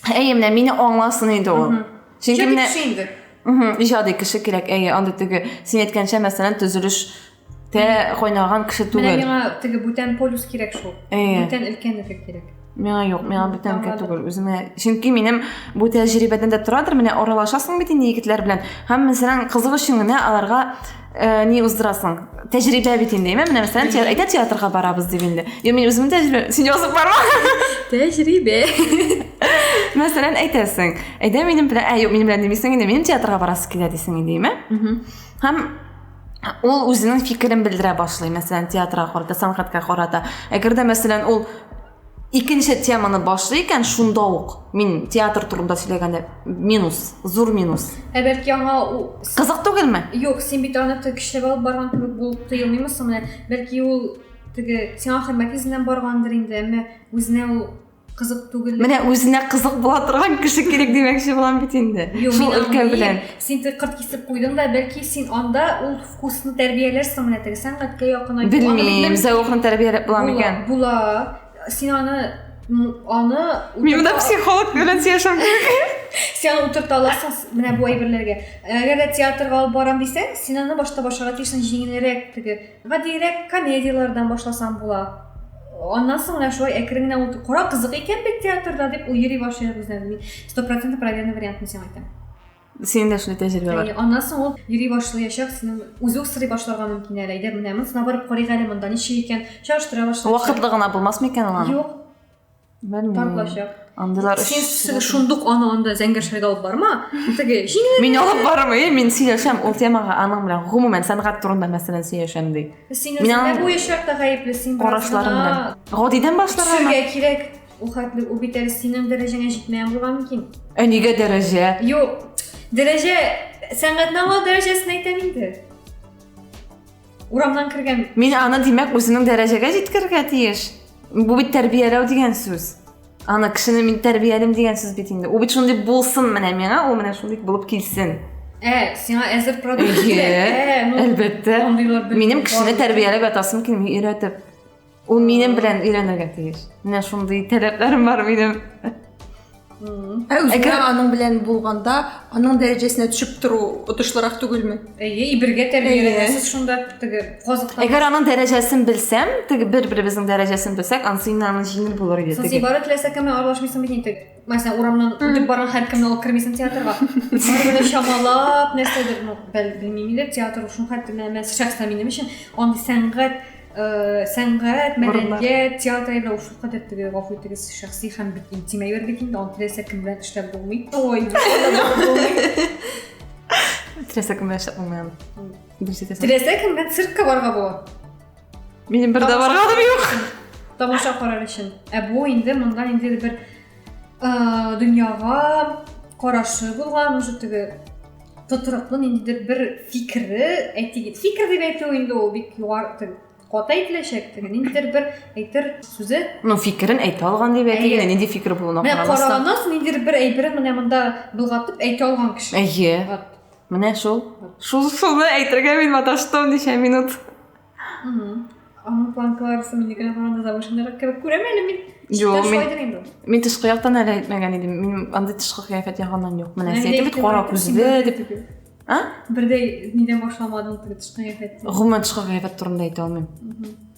Әйе, менә мине аңласын иде ул. Чөнки менә инде. Угу, иҗади кеше кирәк. Әйе, андый теге син әйткәнчә, мәсәлән, төзелеш тә кайнаган кеше түгел. Менә миңа теге бүтән полюс кирәк шул. Әйе. Бүтән өлкән өлкә кирәк. Миңа юк, миңа бүтән өлкә түгел. Үземә, чөнки минем бу тәҗрибәдән дә торадыр, менә аралашасың бит инде егетләр белән. Һәм мәсәлән, кызык өчен генә аларга ә, не уздырасың тәжірибе бит инде ме менә мәсәлән те, әйтә театрга барабыз дип инде е мен үземнең тәжірибе син язып барма тәжірибе мәсәлән әйтәсең әйдә минем белән ә юк минем белән демисең инде минем театрга барасы килә дисең инде ме һәм ул үзенең фикерен белдерә башлый мәсәлән театрга карата сәнгатькә карата әгәр дә мәсәлән ул Икенче теманы башлый икән, шунда ук мин театр турында сөйләгәндә минус, зур минус. Ә бәлки аңа Кызык түгелме? Юк, син бит аны көчләп алып барган кебек булып тоелмыймы соң менә? Бәлки ул теге сиңа хөрмәт йөзеннән баргандыр инде, әмма үзенә ул кызык түгел. Менә үзенә кызык була торган кеше кирәк димәкче булам бит инде. Шул өлкә белән. Син тик кырт кисеп куйдың да, бәлки син анда ул Вкусно тәрбияләрсеңме әле сәнгатькә якын айту? Белмим, зәвыкны тәрбияләп була микән? Була. Син аны аны Мин монда психолог белән сөйләшәм. Сен утырта аласың менә бу әйберләргә. Әгәр дә театрга алып барам дисәң, син аны башта башларга тиешсең җиңелрәк теге. Гадиерәк комедияләрдән башласаң була. Аннан соң менә шулай әкрен генә утыр. Кара кызык икән бит театрда дип ул йөри башлый үзенә. Мин 100% проверенный вариантын сиңа әйтәм. Синең дә шундый тәҗрибә бар. Аннан соң ул йөри башлаячак, синең үзе үк сорый башларга мөмкин әле. Әйдә, менә монысына барып карыйк әле, монда ничек икән? Чагыштыра башлар. Вакытлы гына булмасмы икән ул? Юк. Белмим. Тартлачак. Андыйлар өчен шундук аны анда зәңгәршәгә алып барма. Теге җиңел. Мин алып бармый, мин сөйләшәм ул темага аның белән гомумән сәнгать турында мәсәлән сөйләшәм ди. Син үзеңә буе чакта гаепле син. Карашларым белән. Гадидән башларга. Сергә кирәк. Ул хәтле ул бит әле синең дәрәҗәңә җитмәгән булырга мөмкин. Ә нигә дәрәҗә? Юк, дәрәҗә, сәнгатьнама дәрәҗәсен әйтәм инде. Урамнан кергән. Мин аны, димәк, үземнең дәрәҗәгә җиткерергә тиеш. Бу бит тәрбияләү дигән сүз. Аны кешене мин тәрбиялим дигән сүз бит инде. Ул бит шундый булсын менә миңа, ул менә шундый булып килсен. Ә, сиңа әзер продукт кирәк. Әлбәттә. Минем кешене тәрбияләп ятасым килми, өйрәтеп. Ул минем белән өйрәнергә тиеш. Менә шундый таләпләрем бар минем. Ә үзгә аның белән булганда, аның дәрәҗәсенә төшеп тору отышлырак түгелме? Әйе, бергә тәрбияләнәсез шунда теге казыктан. Әгәр аның дәрәҗәсен белсәм, теге бер-беребезнең дәрәҗәсен белсәк, ансы инде аның җиңел булыр иде. Сез ибарат теләсә кеме аралашмыйсың бит инде. мәсәлән урамнан үтеп барган һәркемне алып кермисең театрга барыбер чамалап нәрсәдер ну белмим инде театр шул хәтле мен шәхсән минем өчен андый сәнгать э, сәнгать мәдәният театр әйбер ул шулкадәр теге гафу итегез шәхси һәм бик интим әйбер бит инде аны теләсә кем белән эшләп булмый ой теләсә кем белән эшләп булмый аны дөрес әйтәсең теләсә кем белән циркка барырга була Минем бер дә барганым юк. Тамаша карар өчен. Ә бу инде монда инде бер дөньяга карашы булган, уже теге тотрыклы инде бер фикере, әйтик, фикер дип әйтү инде ул бик югары ката әйтеләчәк теге ниндидер бер әйтер сүзе ну фикерен әйтә алган дип әйтик инде нинди фикер булуына карамастан менә караганнан соң ниндидер бер әйберен менә монда болгатып әйтә алган кеше әйе Менә шул. Шул шуны әйтергә мин маташтым ничә минут. Аның планкаларысы минекенә караганда завышеннырак кебек күрәм әле мин. Юк, мин, мин тышкы яктан әле әйтмәгән идем. Мин андый тышкы кыяфәт ягыннан юк. Менә син әйтеп кара күзле дип. А? Бердәй нидән башламадың тышкы кыяфәт? Гомумән тышкы кыяфәт турында әйтә алмыйм.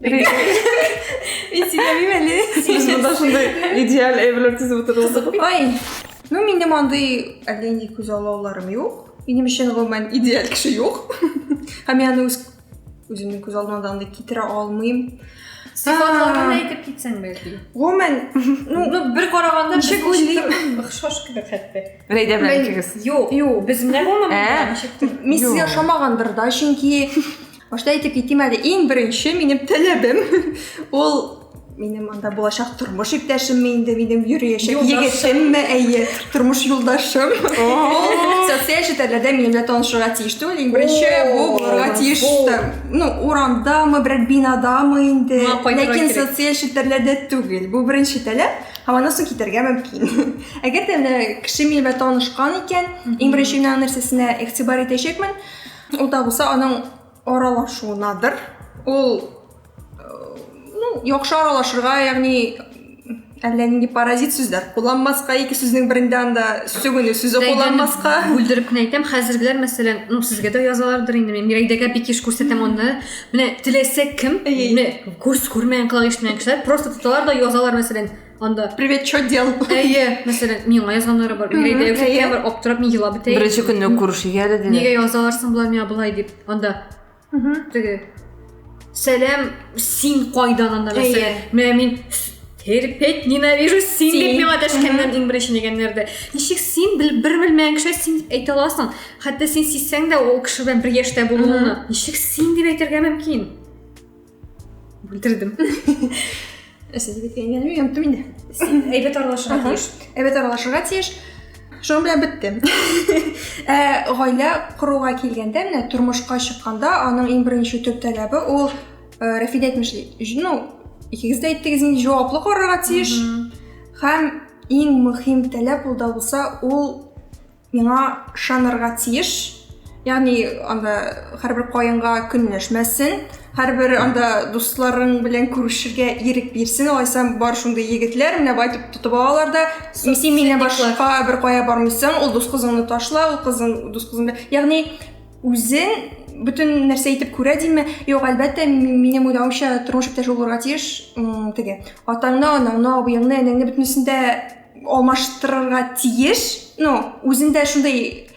Мен сиңа бимәле. Сиз монда шундый идеаль әйберләр тизеп утырдыгыз. Ой. Ну, минем андый әллә нинди күз аллауларым юк. Минем өчен гомумән идеаль кеше юк. Һәм мин аны үз үземнең күз алдыма да андый китерә алмыйм. Сыйфатларын әйтеп китсәң бәлки. Гомумән, ну, ну бер караганда ничек уйлыйм? Охшаш кебек хәтта. Рәйдә белән икегез. Юк. Юк. Без менә гомумән ничек? Мин сезгә ошамагандыр да, чөнки Башта әйтеп китим әле, иң беренче минем таләбем ул минем анда булачак тормыш иптәшемме инде минем йөриячәк егетемме әйе тормыш юлдашым социаль челтәрләрдә минем белән танышырга тиеш түгел иң беренче бу булырга тиеш ну урамдамы берәр бинадамы инде ләкин социаль челтәрләрдә түгел бу беренче таләп һәм аннан соң китәргә мөмкин әгәр дә кеше минем белән танышкан икән иң беренче мин аның нәрсәсенә игътибар итәчәкмен Ул да булса аның аралашуынадыр. Ул ну, яхшы аралашырга, ягъни әллә нинди паразит сүзләр кулланмаска ике сүзнең берендә анда сүгенү сүзе кулланмаска бүлдереп кенә әйтәм хәзергеләр мәсәлән ну сезгә дә язалардыр инде мин мирәйдәгә бик еш күрсәтәм аны менә теләсә кем күз күрмәгән колагы ишетмәгән кешеләр просто тоталар да язалар мәсәлән анда привет что дел әйе мәсәлән миңа язганнары бар миңа әйтә әйе бар аптырап мин елап бетә беренче көнне күрешергә әле диде нигә язалар соң болар миңа болай дип анда теге сәлам син кайдан анда мәсәлән менә мин терпеть ненавижу син дип миңа дәшкәннән иң беренче дигәннәрдә ничек син бер белмәгән кеше син дип әйтә аласың хәтта син сизсәң дә ул кеше белән бер яшьтә булуыңны ничек син дип әйтергә мөмкин бүлдердем сен бит әйләнеп янып түмин дә әйбәт аралашырга тиеш әйбәт аралашырга тиеш шуның белән бетте ә гаилә коруга килгәндә менә тормышка чыкканда аның иң беренче төп таләбе ул э, рәфидә әйтмешли ну икегез дә әйттегез инде җаваплы карарга тиеш һәм иң мөһим таләп ул да булса ул Миңа шанырга тиеш. Ягъни анда һәрбер каенга көнләшмәсен, һәрбер анда дусларың белән күрешергә ирек бирсен. Алайса бар шундый егетләр менә бай дип тотып алалар да, син миннән башка бер кая бармыйсың, ул дус кызыңны ташла, ул кызың дус кызыңны. Ягъни үзен бөтен нәрсә итеп күрә димме? Юк, әлбәттә, минем уйлавымча, тормыш иптәше булырга тиеш, теге атаңны, анаңны, абыеңны, энеңне бөтенесен дә алмаштырырга тиеш ну үзендә шундый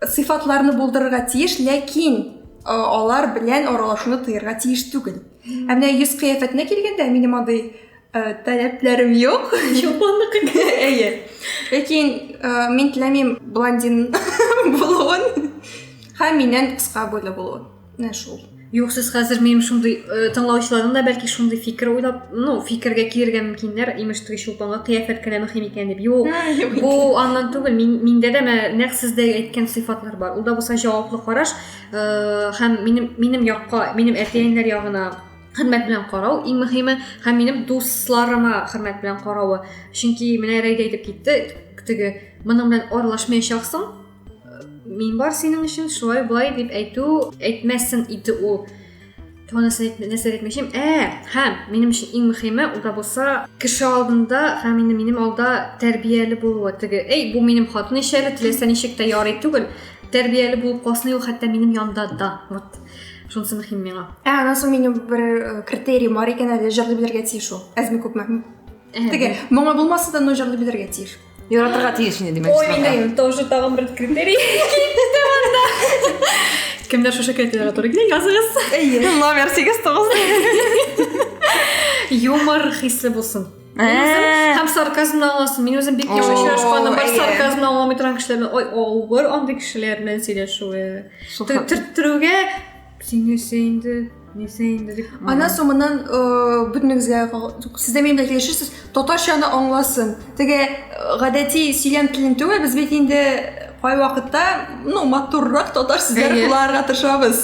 сыйфатларны булдырырга тиеш ләкин э, алар белән аралашуны тыярга тиеш түгел ә менә йөз кыяфәтенә килгәндә минем андый э, таләпләрем юк чулпанныкы әйе ләкин э, мин теләмим блондин булуын һәм миннән кыска буйлы булуын менә шул юк сез хәзер минем шундый э, тыңлаучыларның да бәлки шундый фикер уйлап ну фикергә килергә мөмкиннәр имеш теге чулпанга кыяфәт кенә мөһим икән дип юк бу аннан түгел мин, миндә дә менә нәкъ сездә әйткән сыйфатлар бар ул да булса җаваплы караш э, һәм минем минем якка минем әтиәниләр ягына хөрмәт белән карау иң мөһиме һәм минем дусларыма хөрмәт белән каравы чөнки менә рәйдә әйтеп китте теге моның белән аралашмаячаксың мин бар синең өчен шулай былай дип әйтү әйтмәссең иде ул тонысы нәрсә әйтмекчем ә һәм минем өчен иң мөһиме ул да булса кеше алдында һәм инде минем алда тәрбияле булуы теге эй бу минем хатын ич әле теләсә ничек тә ярый түгел тәрбияле булып калсын ул хәтта минем янда да вот шунысы мөһим миңа ә анан соң минем бер э, критерий бар икән әле җырлый белергә тиеш ул әзме күпме теге моңы булмаса да но җырлый белергә тиеш Яратырга тиеш инде димәк. Ой, миндә тоже тагын бер критерий. Кемдер шушы критерийга туры килә, языгыз. Әйе. Номер 89. Юмор хисле булсын. Э. Һәм сарказм аласың. Мин үзем бик яхшы очрашканым бар сарказм аламый торган кешеләр белән. Ой, авыр андый кешеләр белән сөйләшүе. Төрттерүгә син нәрсә инде нәрсә инде дип аннан соң моннан бөтенегезгә сездә минем белән килешерсез татарчаны аңласын теге гадәти сөйләм телен түгел без бит инде кайвакытта ну матуррак татар сүзләр кулланырга тырышабыз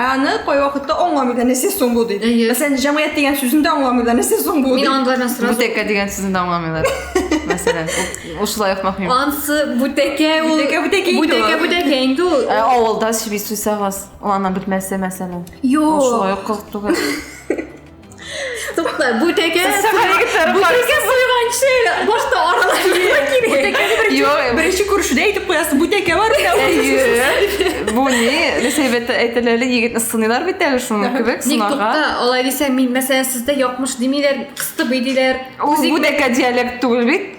аны кайвакытта аңламыйлар нәрсә соң бу дип мәсәлән җәмгыять дигән сүзен дә аңламыйлар нәрсә соң бу мин аңламыйм сразу бүтәкә дигән сүзен дә аңламыйлар мәсәлән ушулай ук мөһим ансы бүтәкә ул бүтәкә бүтәкә инде ул авылда сөйли суйсагыз Ул ана бетмәсе мәсәлән. Юк. Шулай ук кызык түгел. Тукта, бу тәкә. Бу тәкә сойганчы башта аралашырга кирәк. Юк, беренче күрешүдә әйтеп куясың, бу тәкә бар икән. Бу ни? Рәсәйбәттә әйтәләр, егетне сыныйлар бит әле шуның кебек сынага. Ник тукта, алай дисәң, мин мәсәлән сездә якмыш димиләр, кыстыбый диләр. Бу тәкә диалект түгел бит.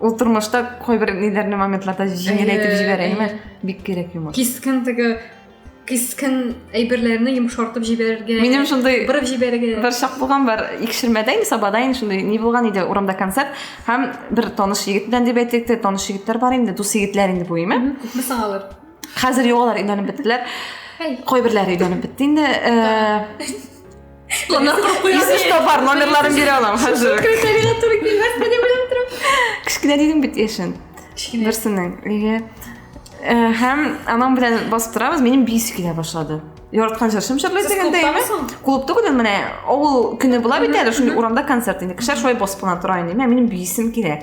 ул тормышта кайбер ниләрне моментларда җиңеләйтеп җибәрә әйме бик кирәк юмор кискен теге кискен әйберләрне йомшартып җибәрергә минем шундый борып җибәрергә бер чак булган бар икшермәдә инде сабада инде шундый ни булган иде урамда концерт һәм бер таныш егет белән дип әйтик тә таныш егетләр бар инде дус егетләр инде бу име күпме соң алар хәзер юк алар өйләнеп беттеләр кайберләре өйләнеп бетте инде если что бар номерларын бере аламын хәзер кішкене дедім бит яшен берсінің үйге һәм анам белән басып торабыз менің бейсі килә башлады яраткан җырчым җырлый дигәндә яме клуб түгел ул менә авыл көне була бит әле шундый урамда концерт инде кешеләр шулай басып кына тора инде менә минем биисем килә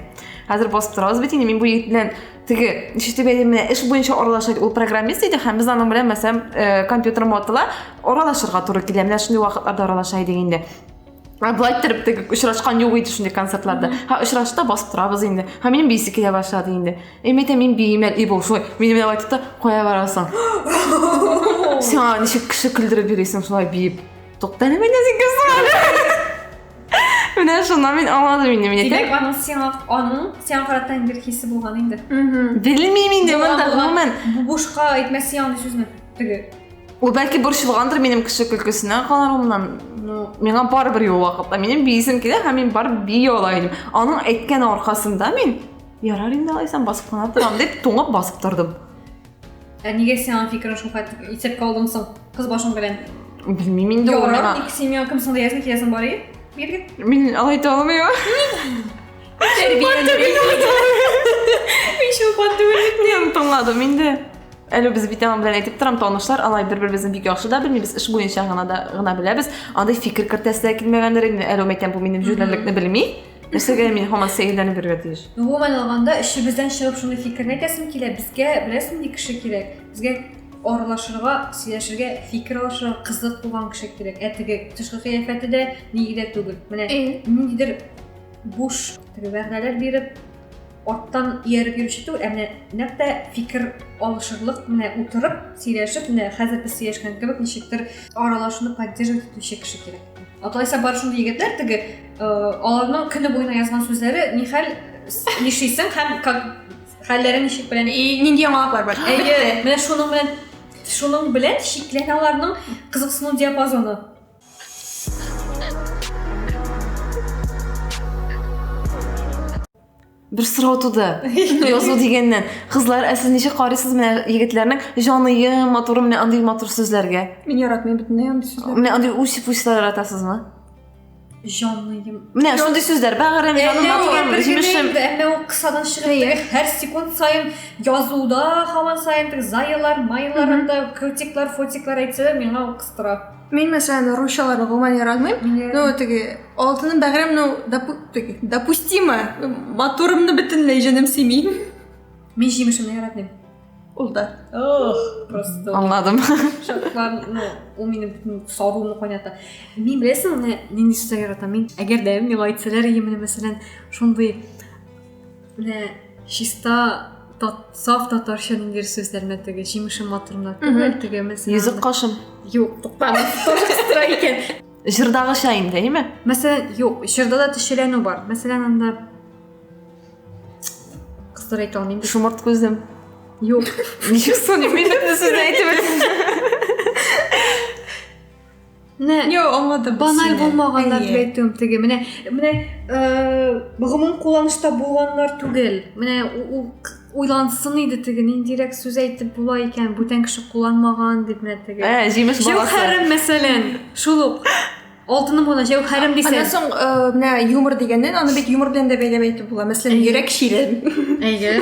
хәзер басып торабыз бит инде мин бу егет белән теге ничек дип әйтим менә эш буенча аралаша ул программист иде һәм без аның белән мәсәлән э, компьютер мотыла аралашырга туры килә менә шундый вакытларда аралаша идек инде а былай иттереп теге очрашкан юк иде шундый концертларда һә очрашты да басып торабыз инде һәм минем бийсе килә башлады инде и мен әйтәм мин биймим әле и бу шулай мине менә былай тотты кая барасың сиңа ничек кеше көлдереп йөрисең шулай биеп тукта әле мин үзең Менә шуннан мин аңладым инде мине. Димәк, аның сиңа аның сиңа карата бер хисе булган инде. Белмим инде монда гомумән. Бу бушка әйтмәсе яңа сүзне. Теге. Ул бәлки борчылгандыр минем кеше көлкесенә каларымнан. Ну, миңа барыбер юл вакытта. Минем биисем килә һәм мин барып бии ала идем. Аның әйткән аркасында мин ярар инде алайсам басып кына торам дип туңып басып тордым. Ә нигә син аның фикерен шул хәтле исәпкә алдың соң? Кыз башың белән. Белмим инде ул миңа. Ярар, семья кем соң диясен киясен бар ие. Биргит. Мин алай итә алмыйм. Мин шулпан түгел. Мин тыңладым инде. Әле без бит аның белән әйтеп торам, танышлар алай бер-беребезне бик яхшы да белмибез, эш буенча гына да гына беләбез. Андый фикер кертәсе дә килмәгәндер инде. Әле мәйтәм бу минем җүләрлекне белми. Нәрсәгә мин һаман сәерләнеп йөрергә тиеш? Гомумән алганда, эчебездән чыгып шуны фикерне әйтәсем килә, безгә беләсең нинди кеше кирәк? Безгә аралашырга, сөйләшергә, фикер алышырга кызык булган кеше кирәк. Ә теге тышкы кыяфәте дә нигә түгел. Менә ниндидер буш теге вәгъдәләр биреп, Аттан ияреп йөрүче түгел, ә менә нәкъ тә фикер алышырлык менә утырып, сөйләшеп, менә хәзер без сөйләшкән кебек ничектер аралашуны поддерживать итүче кеше кирәк. Атайса бар шундый егетләр теге э, аларның көне буена язган сүзләре нихәл нишисең һәм как хәлләре ничек белән и нинди яңалыклар бар. Әйе, менә шуның белән шуның белән чикләнә аларның кызыксыну диапазоны. бер сорау туды язу дигәннән кызлар ә сез ничек карыйсыз менә егетләрнең җаные матуры менә андый матур сүзләргә мин яратмыйм бөтенләй андый сүзләр менә андый үч пучлар яратасызмы җаныем менә шундый сүзләр бәгырем җаным матурым җимешем әмма ул кысадан чыгып һәр секунд саен язуда һаман саен заялар маялар анда крутиклар фотиклар әйтсәләр миңа ул кыстыра Мин мәсәлән русчаларны гомумән яратмыйм. Ну теге алтыным бәгырем ну теге допустимо. Матурымны бөтенләй җаным семи. Мин җимешемне яратмыйм. Ул да. Ох, просто. Аңладым. Шатлан, ну, ул минем савымны кайната. Мин беләсең, менә нинди сүзләр яратам. Мин әгәр дә миңа әйтсәләр, мин мәсәлән, шундый Менә чиста тат, саф татарча ниндидер сүзләр менә теге җимеше матурына түгел, теге мес. Йөзек кашым. Юк, туктама. Тора икән. Җырдагыча инде, әйме? Мәсәлән, юк, җырда да төшеләнү бар. Мәсәлән, анда кызлар әйтә алмыйм. Шомырт күзем. Юк. Ничек соң, мин бөтен сүзне әйтеп Менә Йо, аңладым. Баналь булмаганнар дип әйтүем теге. Менә менә гомум кулланышта булганнар түгел. Менә ул уйлансын иде теге ниндирәк сүз әйтеп була икән, бүтән кеше кулланмаган дип менә теге. Ә, җимеш баласы. Җәүһәрем, мәсәлән, шул ук алтыным гына җәүһәрем дисә. Аннан соң менә юмор дигәннән, аны бит юмор белән дә бәйләп әйтеп була. Мәсәлән, йөрәк чирен. Әйе.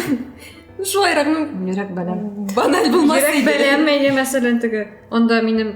Шулайрак, ну, йөрәк бәләм. Баналь булмас иде. Йөрәк бәләм, әйе, мәсәлән, теге. Анда минем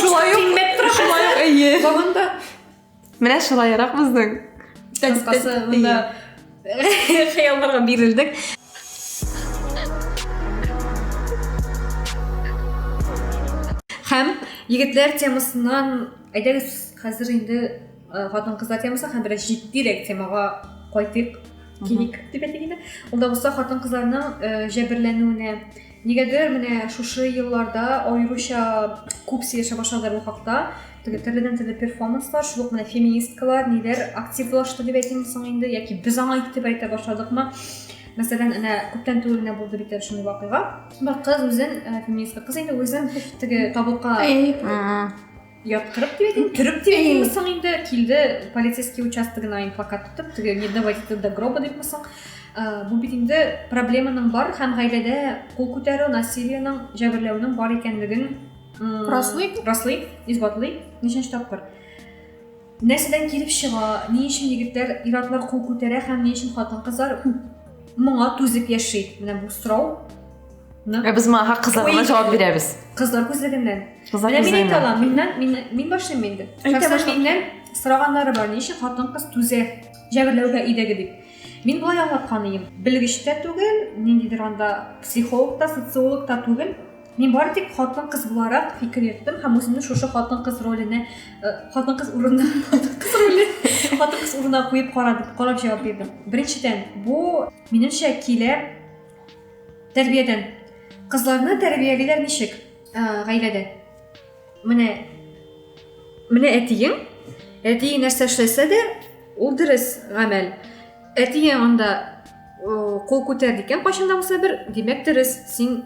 Шулай ук тимәп тора. Шулай ук әйе. Заманда Менә шулайрак безнең. Кыскасы монда хыялларга бирелдек. Һәм егетләр темасыннан әйдәгез хәзер инде хатын кызлар темасы һәм бераз җитдирәк темага кайтыйк. Килик дип әйтик инде. Ул да булса хатын кызларның җәберләнүенә Нигәдер менә шушы елларда аеруча күп сөйләшә башладылар бу хакта. Теге төрледән төрле перформанслар, шул ук менә феминисткалар, ниләр активлашты дип әйтимме соң инде, яки без аңа игътибар итә башладыкмы? Мәсәлән, әнә күптән түгел генә булды бит әле шундый вакыйга. Бер кыз үзен, э, феминистка кыз инде, үзен теге табутка Әй. яткырып дип әйтим төреп дип әйтимме соң инде килде полицейский участогына инфокат тотып теге не доводите до гроба дипме соң бу бит инде проблеманың бар һәм гаиләдә кул күтәрү насилиенең җәберләүнең бар икәнлеген раслый раслый исбатлый ничәнче тапкыр Нәрсәдән килеп чыга, ни өчен егетләр, ир-атлар кул күтәрә һәм ни өчен хатын-кызлар моңа түзеп яши? Менә бу сорау. Ә без моңа хак кызлар гына җавап бирәбез. Кызлар күзлегеннән. Кызлар күзлегеннән. Менә мин әйтә алам, миннән, мин, мин башлыйм инде. Әйтә башлыйм. Миннән сораганнары бар, ни өчен хатын-кыз түзә җәберләүгә өйдәге дип. Мин болай аңлаткан идем. Белгеч тә түгел, ниндидер анда психолог та, социолог та түгел. Мин бары тик хатын-кыз буларак фикер йөрттем һәм үземне шушы хатын-кыз роленә, э, хатын-кыз урынына, хатын-кыз роле, хатын-кыз урынына куеп карадым, карап җавап бирдем. Беренчедән, бу минемчә килә тәрбиядән. Кызларны тәрбиялиләр ничек? Э, гаиләдә. Менә менә әтиең, әтиең нәрсә эшләсә дә, ул дөрес гамәл. Әтиең анда э, кул күтәрде икән, кайчан да булса бер, димәк дөрес, син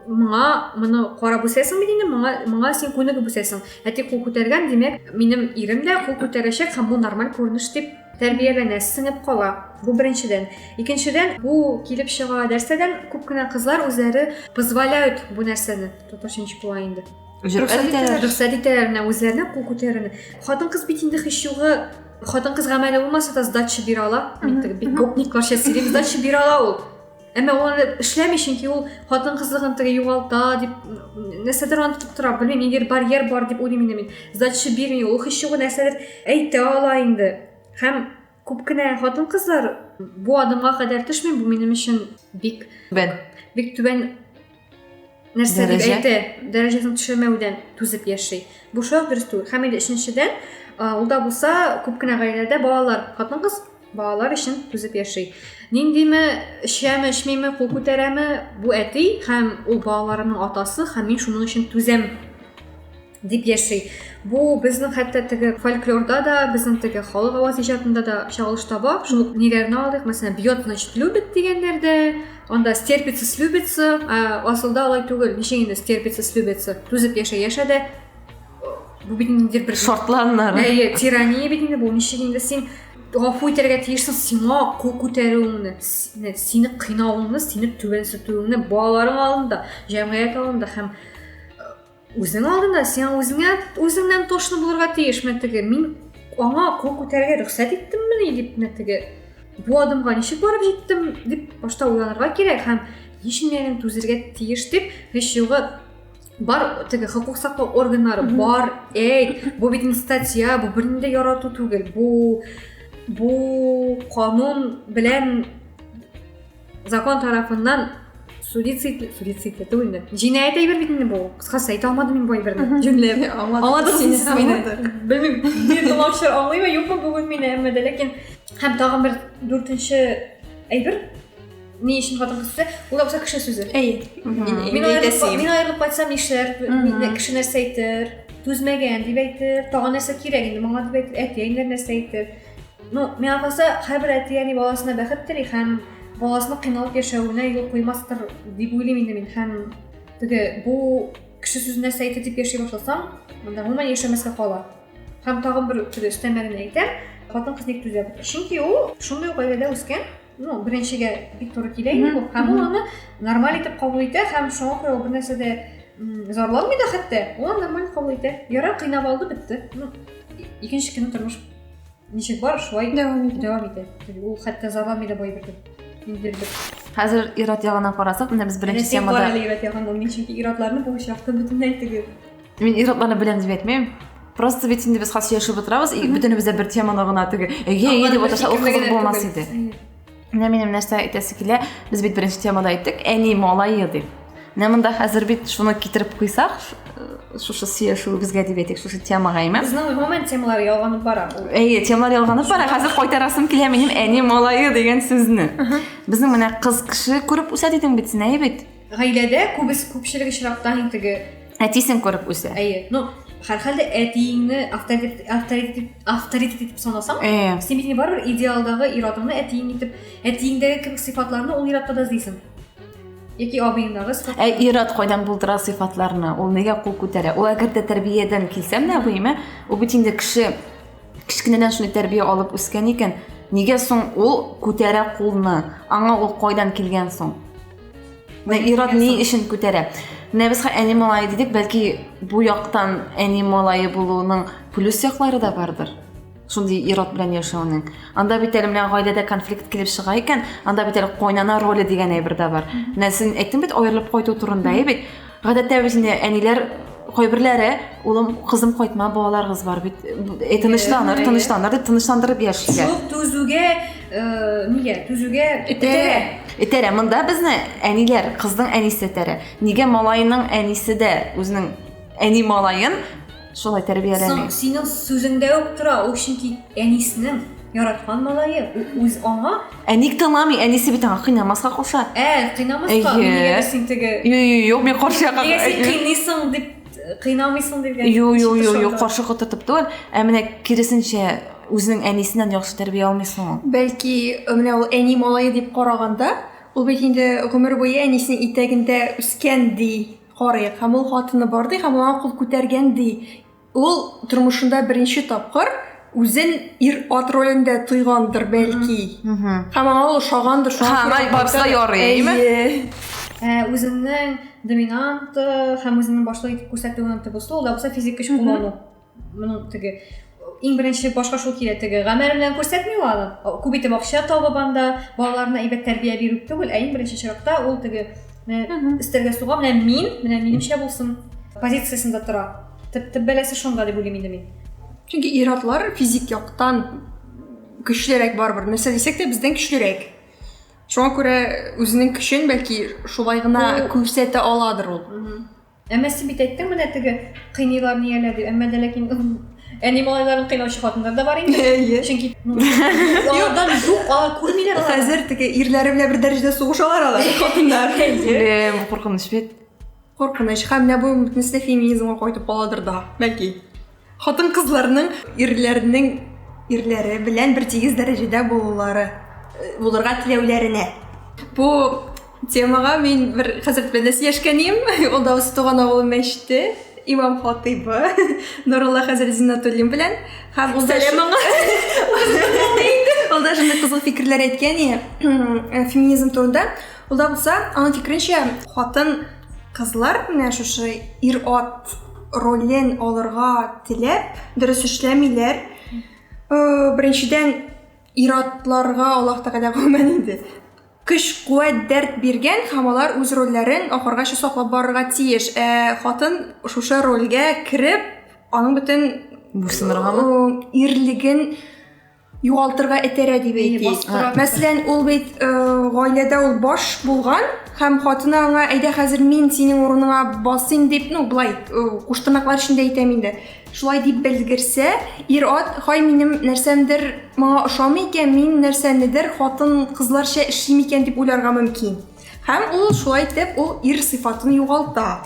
моңа моны карап үсәсең бит инде моңа моңа син күнегеп үсәсең әти кул күтәргән димәк минем ирем дә кул күтәрәчәк һәм бу нормаль күренеш дип тәрбияләнә сеңеп кала бу беренчедән икенчедән бу килеп чыга нәрсәдән күп кенә кызлар үзләре позволяют бу нәрсәне татарча ничек була инде рөхсәт итәләр менә үзләренә кул күтәрүне хатын кыз бит инде һич югы хатын кыз гамәле булмаса да сдача бирә ала бит гопникларча сөйлим сдача бирә ала ул Әмма ул аны эшләми, чөнки ул хатын-кызлыгын теге югалта дип, нәрсәдер аны тотып тора, белмим, ниндидер барьер бар дип уйлыйм инде мин. Задача бирми, ул һич югы нәрсәдер әйтә ала инде. Һәм күп кенә хатын-кызлар бу адымга кадәр төшми, бу минем өчен бик түбән. Бик түбән нәрсә дип әйтә дәрәҗәсен төшермәүдән түзеп яши бу шундук дөрес түгел һәм инде өченчедән ул да булса күп кенә гаиләдә балалар хатын кыз балалар өчен түзеп яши ниндиме эчәме эчмиме кул күтәрәме бу әти һәм ул балаларымның атасы һәм мин шуның өчен түзәм дип яши. Бу безнең хәтта теге фольклорда да, безнең теге халык аваз иҗатында да чагылыш таба. Шул ук ниләрне алдык? Мәсәлән, бьет, значит, любит дигәннәрдә, анда стерпится, слюбится, асылда алай түгел. Ничек инде стерпится, слюбится? Түзеп яшә, яшә дә бу бит инде бер шартланнар. Әйе, тирания бит инде бу. Ничек инде син гафу итәргә тиешсең сиңа кул күтәрүеңне сине кыйнавыңны сине түбәнсетүеңне балаларың алдында җәмгыять алдында һәм Үзең алдында сиңа үзеңә үзеңнән тошны булырга тиешме теге? Мин аңа кул күтәрергә рөхсәт иттеммени дип менә теге бу адымга ничек барып җиттем дип башта уйланырга кирәк һәм ни өчен мин түзергә тиеш дип һич югы бар теге хокук саклау органнары бар әйт бу бит статья бу берни дә ярату түгел бу бу канун белән закон тарафыннан суицид суицид это инде җинаять әйбер бит инде бу кыскасы әйтә алмадым мин бу әйберне җүнләп аңладыгыз сез мине белмим мин тыңлаучылар аңлыймы юкмы бүген мине әмма дә ләкин һәм тагын бер дүртенче әйбер ни өчен хатын кыз ул акча кеше сүзе әйе мин аерылып кайтсам нишләр кеше нәрсә әйтер түзмәгән дип әйтер тагын нәрсә кирәк инде моңа дип әйтер әти әниләр нәрсә әйтер Ну, миңа калса, һәрбер әти-әни баласына бәхет тели һәм баласының кыйналып яшәвенә юл куймастыр дип уйлыйм инде мин һәм теге бу кеше сүз нәрсә әйтә дип яши башласаң, монда гомумән яшәмәскә кала. Һәм тагын бер теге өстәмәлен әйтәм, хатын кыз ник түзә? Чөнки ул шундый ук гаиләдә үскән, ну, беренчегә бик туры килә инде бу. Һәм ул аны нормаль итеп кабул итә һәм шуңа күрә ул бер нәрсә дә зарланмый да хәтта, ул нормаль кабул итә. Ярар, кыйнап алды, бетте. Ну, икенче көнне тормыш Ничек бар, шулай дәвам итә. Дәвам итә. Ул хәтта зарламый да бай бирде. Хәзер ират ягына карасак, менә без беренче темада... Әнә сен бар ират ягында, мин чөнки иратларны бу очракта бөтенләй тегеп. Мин иратларны беләм дип әйтмәйм. Просто бит инде без хәзер сөйләшеп утырабыз, и бөтенебез дә бер теманы гына теге. Әйе, әйе дип отырса, ул кызык булмас иде. Менә минем нәрсә әйтәсе килә, без бит беренче темада әйттек, әни малае дип. Менә монда хәзер бит шуны китереп куйсак, шушы сөйләшүебезгә дип әйтик, шушы темага имә. Безнең гомумән темалар ялганып бара. Әйе, темалар ялганып бара. Хәзер кайтарасым килә минем әни малае дигән сүзне. Безнең менә кыз кеше күреп үсә дидең бит син, әйе бит? Гаиләдә күбес күпчелек очракта һин теге Әтисен күреп үсә. Әйе. Ну, һәрхәлдә әтиеңне авторитет авторитет авторитет итеп санасаң, Әйе. син бит барыбер идеалдагы ир-атыңны әтиең итеп, әтиеңдәге кебек сыйфатларны ул ир-атта да эзлисең. Яки абыеңдагы сыйфат. Ә ир-ат кайдан булдыра сыйфатларны? Ул нигә кул күтәрә? Ул әгәр дә тәрбиядән килсәм дә абыемә, ул бит инде кеше кечкенәдән шундый тәрбия алып үскән икән, нигә соң ул күтәрә кулны? Аңа ул кайдан килгән соң? Менә ир-ат ни өчен күтәрә? Менә без әни малае дидек, бәлки бу яктан әни малае булуның плюс яклары да бардыр. Шундый ир-ат белән яшәүнең. Анда бит әле менә гаиләдә конфликт килеп чыга икән, анда бит әле кайнана роле дигән әйбер дә бар. Менә син әйттең бит, аерылып кайту турында, әйе бит? Гадәттә без инде әниләр кайберләре улым кызым кайтма балаларыгыз бар бит э, тынычланыр тынычланыр дип тынычландырып яшиләр шул түзүгә э, нигә түзүгә этәрә этәрә монда безне әниләр кызның әнисе этәрә нигә малайның әнисе дә үзенең әни малаен Шулай тәрбияләми. Соң, синең сүзеңдә үк тора, ул чөнки әнисенең яраткан малае, ул үз аңа. Ә ник тыңламый? Әнисе бит аңа кыйнамаска куша. Ә, кыйнамаска, нигә син теге? Юк, мин каршы якка. Нигә син кыйныйсың дип кыйнамыйсың дигән. Юк, юк, юк, юк, каршы котыртып түгел, ә менә киресенчә үзенең әнисеннән яхшы тәрбия алмыйсың ул. Бәлки, менә ул әни малае дип караганда, ул бит инде гомер буе әнисенең итәгендә үскән ди. Карыйк, һәм ул хатыны бар ди, һәм ул аңа кул күтәргән ди. Ул тормышында беренче тапкыр үзен ир-ат ролендә тойгандыр, бәлки. Һәм аңа ул ошагандыр, шуңа күрә ул барыска ярый, әйеме? Әйе. Үзеңнең доминант һәм үзеңнең башлык итеп күрсәтүең төп ысул, ул да булса физик көч куллану. моның теге иң беренче башка шул килә теге гамәл белән күрсәтми ул аны күп итеп акча табып анда балаларына әйбәт тәрбия бирү түгел ә иң беренче чиратта ул теге өстәлгә суга менә мин менә минемчә булсын позициясендә тора төп төп бәласе шунда дип уйлыйм инде мин чөнки ир-атлар физик яктан көчлерәк барыбер нәрсә дисәк тә бездән көчлерәк шуңа күрә үзенең көчен бәлки шулай гына күрсәтә аладыр ул Әмма син бит әйттең менә теге кыйныйлар нияләр дип. Әмма дә ләкин әни малайларын кыйнаучы хатыннар да бар инде. Әйе. Чөнки алардан юк, алар күрмиләр алар. Хәзер теге ирләре белән бер дәрәҗәдә сугышалар алар хатыннар. Әйе. Куркыныч бит. Куркыныч. Һәм менә бу бөтенесе феминизмга кайтып каладыр да. Бәлки. Хатын-кызларның ирләрнең ирләре белән бертигез дәрәҗәдә булулары, э, булырга теләүләренә. Бу темага мин бер хәзрәт белән сөйләшкәнем, ул да үз туган авылы мәчете имам хатыйбы Нурулла хәзрәт Зиннатуллин белән һәм ул да ул да шундый кызык фикерләр әйткән феминизм турында. Ул да булса, аның фикеренчә, хатын кызлар менә шушы ир-ат ролен алырга теләп, дөрес эшләмиләр. Э, беренчедән, ир-атларга Аллаһ Тәгалә гомумән инде көч, куәт, дәрт биргән һәм алар үз рольләрен ахыргача саклап барырга тиеш. Ә хатын шушы рольгә кереп, аның бөтен Буйсыныргамы? Э, ирлеген югалтырга этәрә дип әйтик. Мәсәлән, ул бит э, гаиләдә ул баш булган һәм хатыны аңа әйдә хәзер мин синең урыныңа басыйм дип, ну, былай э, куштырнаклар эчендә әйтәм инде. Шулай дип белгерсә, ир ат, хай минем нәрсәмдер моңа ошамый икән, мин нәрсәнедер хатын кызларча эшлим икән дип уйларга мөмкин. Һәм ул шулай итеп ул ир сыйфатын югалта.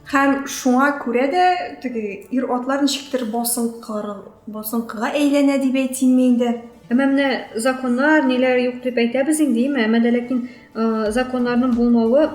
Һәм шуңа күрә дә теге ир атлар ничектер басынкы басынкыга әйләнә дип әйтимме инде. Әмма менә законнар, ниләр юк дип әйтәбез инде, әмма дә ләкин законнарның булмавы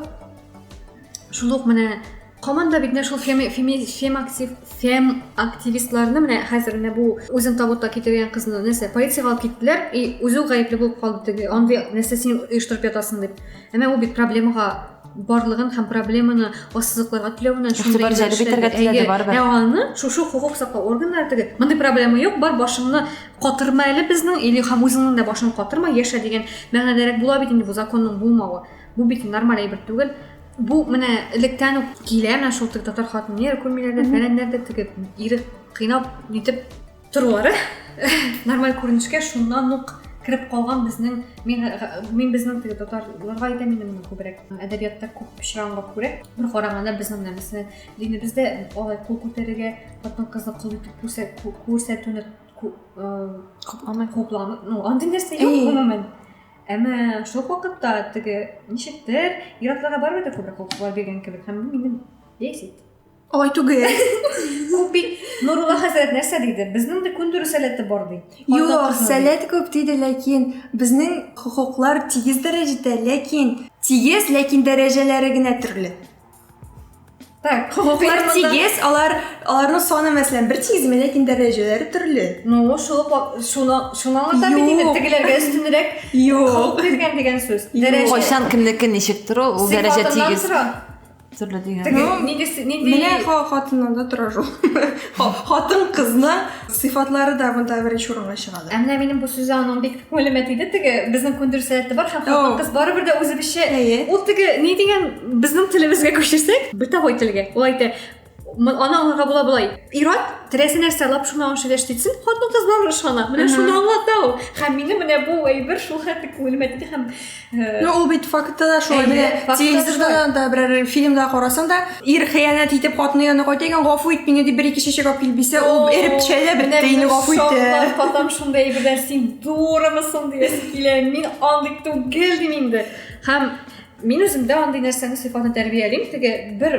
шул ук менә команда бит менә шул фем фем актив фем активистларны менә хәзер менә бу үзен табутка китергән кызны нәрсә полициягә алып киттеләр и үзе гаепле булып калды теге андый нәрсә син оештырып ятасың дип әмма ул бит проблемага барлыгын һәм проблеманы ассызыкларга теләвенә шундый җәлеп итәргә теләде барыбер ә аны шушы хокук саклау органнары теге мондый проблема юк бар башыңны катырма әле безнең или һәм үзеңнең дә башыңны катырма яшә дигән мәгънәдәрәк була бит инде бу законның булмавы Бу бит нормаль әйбер түгел. Бу менә электән үк килә, менә шул теге татар хатыннар күрмиләрдә, фәләннәрдә теге ире кыйнап нитеп торулары нормаль күренешкә шуннан ук кереп калган безнең мин мин безнең теге татарларга әйтәм инде моны күбрәк әдәбиятта күп очранга күрә бер караганда безнең менә мәсәлән динебездә алай кул күтәрергә хатын кызны кол итеп күрсәтүне купламый купламый ну андый нәрсә юк гомумән Әмма шул ук вакытта теге ничектер ир-атларга барыбер дә күбрәк хокуклар биргән кебек һәм бу мине бесит. Алай түгел. Ул бит Нурулла хәзрәт нәрсә диде? Безнең дә күндерү сәләте бар ди. Юк, сәләт күп диде, ләкин безнең хокуклар тигез дәрәҗәдә, ләкин тигез, ләкин дәрәҗәләре генә төрле. Так, хокуклар тигез, алар аларның саны мәсәлән бер тигезме, ләкин дәрәҗәләре төрле. Ну, шул шуны шуны аңлата бит инде тегеләргә өстенрәк хокук биргән дигән сүз. Дәрәҗә кайчан кемнеке ничек тору, ул дәрәҗә тигез. Төрле дигән. Нигез нинди? Менә хатыннан да тора шул. Хатын кызны Сыйфатлары да монда беренче урынга чыгады. Ә менә минем бу сүзе аның бик күңелемә тиде теге безнең күндер сәләте бар һәм хатын кыз барыбер дә үзебезчә. Ул теге ни дигән безнең телебезгә күчерсәк, бытовой телгә. Ул әйтә, аны аңларга була болай. Ират теләсә нәрсә алып шуны аңлашып яшәтсен, хатын кыз барыбер ышана. Менә шуны аңлата ул. Һәм минем менә бу әйбер шул хәтле күңелемә тиде һәм Ну, ул бит фактта да шулай. Менә телевизорда да берәр фильмда карасаң да, ир хыянәт итеп хатыны янына кайта икән, гафу ит мине дип бер-ике чәчәк алып килеп бирсә, ул эреп төшә дә бетте, инде гафу итте. Татам шундый әйберләр син дурымысың диясе килә. Мин андый түгел дим инде. Һәм мин үземдә андый нәрсәне сыйфатны тәрбиялим теге бер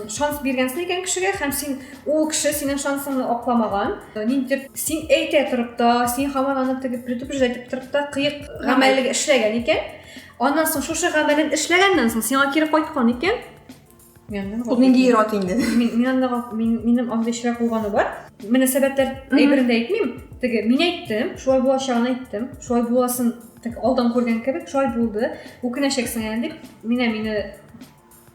шанс биргәнсең икән кешегә һәм син Ул кеше синең шансыңны акламаган. Ниндидер син әйтә торып та, син һаман аны теге предупреждать итеп торып та кыек гамәллек эшләгән икән. Аннан соң шушы гамәлен эшләгәннән соң сиңа кире кайткан икән. Ул нинди ират инде? Мин анда минем анда эшләп булганы бар. Мөнәсәбәтләр әйберен дә әйтмим. Теге мин әйттем, шулай булачагын әйттем. Шулай буласын алдан күргән кебек, шулай булды. Үкенәчәксең әле дип, менә мине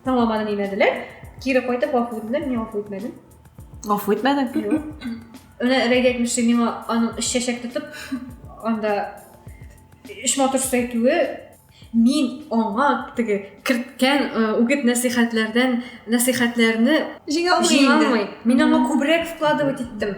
Тыңламады димәделәр. Кире кайтып гафу үтенделәр, мин гафу итмәдем. Гафу итмәдең? Юк. Ана Рәйд әйтмешли, миңа аның өч чәчәк тотып, анда өч матур сүз әйтүе мин аңа теге керткән э, үгет нәсихәтләрдән нәсихәтләрне җиңә алмый. Мин аңа күбрәк вкладывать иттем.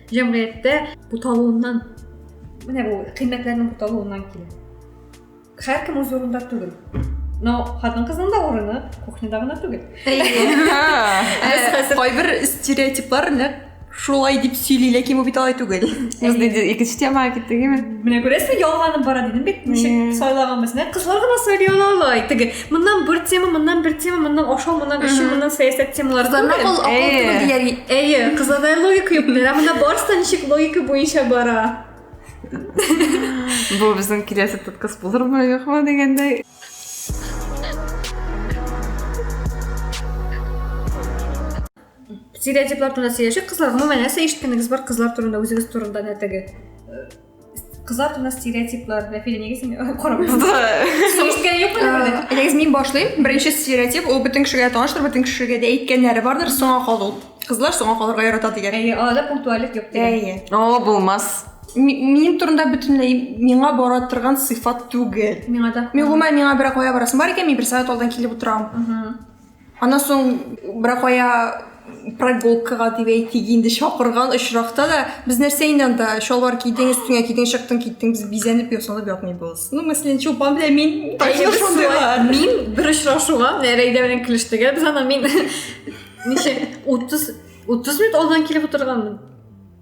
Җәмгыятьтә буталуыннан, менә бу кыйммәтләрнең буталуыннан килә. Һәркем үз урында түгел. Но хатын-кызның да урыны кухняда гына түгел. Кайбер стереотиплар нәкъ шулай дип сөйли, ләкин бу бит алай түгел. Без инде икенче темага киттек, әйме? Менә күрәсезме, ялганып бара дидем бит, ничек сайлаганбыз. Нәкъ кызлар гына сайлый ала алай. Теге Моннан бер тема, моннан бер тема, моннан ашау, моннан эчү, моннан сәясәт темалары Кызларның түгел. ул акыл түгел дияр. Әйе, кызларда логика юк. Менә монда барысы да ничек логика буенча бара. Бу безнең киләсе подкаст булырмы, юкмы дигәндәй. Стереотиплар турында сөйләшик, кызлар. Гомумән, нәрсә ишеткәнегез бар кызлар турында, үзегез турында нәтеге? Кызлар турында стереотиплар, Рәфилә, нигә син карамыйсың? Ишеткән юк менә бер дә. Әйдәгез мин башлыйм. Беренче стереотип ул бөтен кешегә таныштыр, бөтен кешегә дә әйткәннәре бардыр, соңа калу. Кызлар соңа калырга ярата дигән. Әйе, аларда пунктуальлек юк дигән. Әйе. О, булмас. Ми- Минем турында бөтенләй миңа бара торган сыйфат түгел. Миңа да. Мин гомумән миңа берәр кая барасым бар икән, мин бер сәгать алдан килеп утырам. Мгм. Аннан соң беракая прогулкага дип әйтик инде чакырган очракта да без нәрсә инде анда шалбар кидең өстеңә кидең чыктың киттең без бизәнеп ясанып ятмыйбыз ну мәсәлән чулпан белән мин мин бер очрашуга рәйдә белән килештегә без ана мин ничә утыз утыз минут алдан килеп утырганмын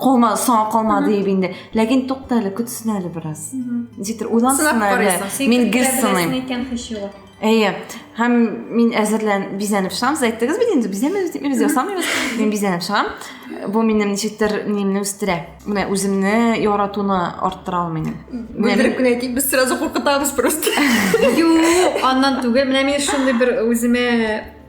Калма, соңа калма диеп инде. Ләкин тукта әле, көтсен әле бераз. Ничектер уйлансын әле. Мин гел сыным. Әйе. Һәм мин әзерлән бизәнеп чыгам. Сез әйттегез бит инде, бизәмәбез дип, без ясамыйбыз. Мин бизәнеп чыгам. Бу минем ничектер нимне үстерә. Менә үземне яратуны арттыра ул минем. Бүлдереп кенә әйтик, без сразу куркытабыз просто. Юк, аннан түгел. Менә мин шундый бер үземә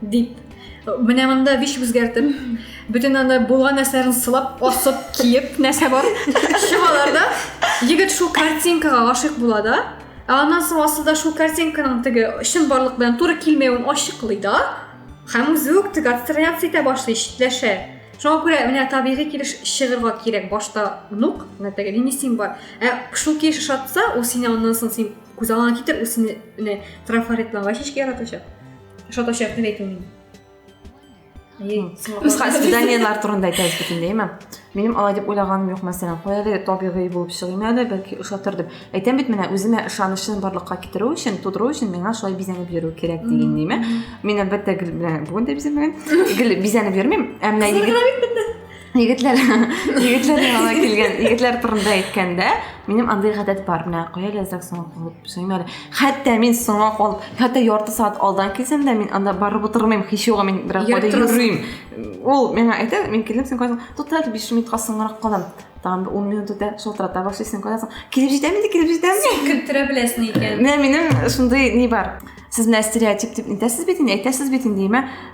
Дип, менә монда биш үзгәртеп, бөтен аны булган нәрсәләрен сылап, асып, киеп, нәрсә бар, чыгаларда, егет шул картинкага гашык була да, аннан соң асылда шул картинканың теге чын барлык белән туры килмәвен ачыклый да, һәм үзе үк теге абстракция итә башлый, читләшә. Шуңа күрә менә табигый килеш чыгырга кирәк башта нук, менә теге лимитинг бар. Ә шул килеш шатса, ул сине аннан соң син күз алыңа китер, ул сине менә трафаретланган чәчкә яратачак. Что то сейчас не этим. Үз хасиданиятлар турында әйтәбез бөтенләйме? Минем алай дип уйлаганым юк, мәсәлән, куяле табигый булып чыгыйм әле, бәлки ошатыр дип. Әйтәм бит менә үземә ышанычын барлыкка китерү өчен, тудыру өчен миңа шулай бизәнеп йөрү кирәк дигән диме? Мин әлбәттә гел белән бүген дә бизәмәгән. Гел бизәнеп йөрмим. Ә менә егет егетләр егетләр янына килгән егетләр турында әйткәндә минем андый гадәт бар менә кая ләззәк соңга калып сөймә әле хәтта мин соңга кал хәтта ярты сәгать алдан килсәм дә мин анда барып утырмыйм һич югы мин бераз кайда йөрим ул миңа әйтә мин килдем сен кайда тот әле биш минутка соңгарак калам тагын ун минут үтә шалтырата башлый сен кайдасың килеп җитәм инде килеп җитәм син көлтерә беләсең икән менә минем шундый ни бар сез менә стереотип дип нитәсез бит инде әйтәсез бит инде димә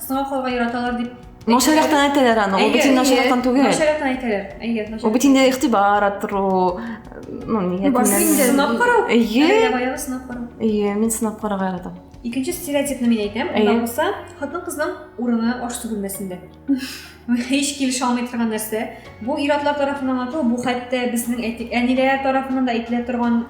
Сыңа калга яраталар дип Начаррактан әйтәләр аны, ул бит инде начаррактан түгел. Начаррактан әйтәләр. Әйе, начаррактан. Ул бит инде игътибар арттыру, ну, нигә сынап карау. Әйе. Баягы сынап карау. Әйе, мин сынап карарга яратам. Икенче стереотипны мин әйтәм, анда булса, хатын-кызның урыны аш түгелмәсендә. Һич килешә алмый торган нәрсә. Бу ир-атлар тарафыннан ату, бу хәтта безнең әниләр тарафыннан да әйтелә торган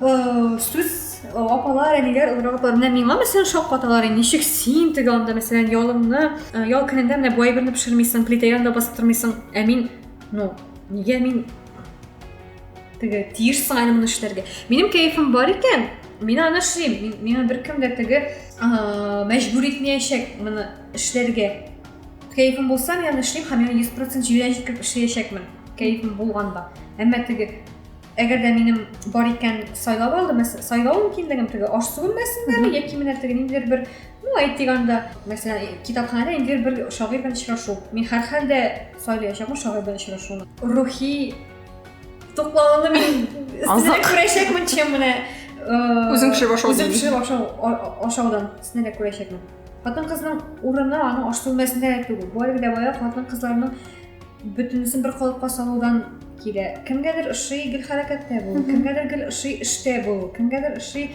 Э, сүз э, апалар әниләр олырак апалар менә миңа мәсәлән шаккаталар инде ничек син теге анда мәсәлән ялымны э, ял көнендә менә бу әйберне пешермисең плита янында басып тормыйсың ә мин ну нигә мин теге тиешсең әле моны эшләргә минем кәефем бар икән мин аны эшлим миңа беркем дә теге мәҗбүр итмәячәк моны эшләргә кәефем булса мин аны эшлим һәм миңа йөз процент җирән җиткереп эшләячәкмен кәефем булганда әмма теге Әгәр дә минем бар икән сайлап алды, сайлау мөмкинлегем теге аш су бүлмәсендәме яки менә теге ниндидер бер, ну, әйтик анда, мәсәлән, китапханәдә ниндидер бер шагыйрь белән очрашу. Мин һәрхәлдә сайлаячакмын шагыйрь белән очрашуны. Рухи туклануны мин сине күрәчәкмен, чем менә үзең пешереп ашау. Үзең пешереп ашау ашаудан сине күрәчәкмен. Хатын-кызның урыны аның аш бүлмәсендә түгел. Бу әле дә бая хатын-кызларның Бөтенесен бер калыпка салудан килә. Кемгәдер ошый гел хәрәкәттә булу, кемгәдер гел ошый эштә булу, кемгәдер ошый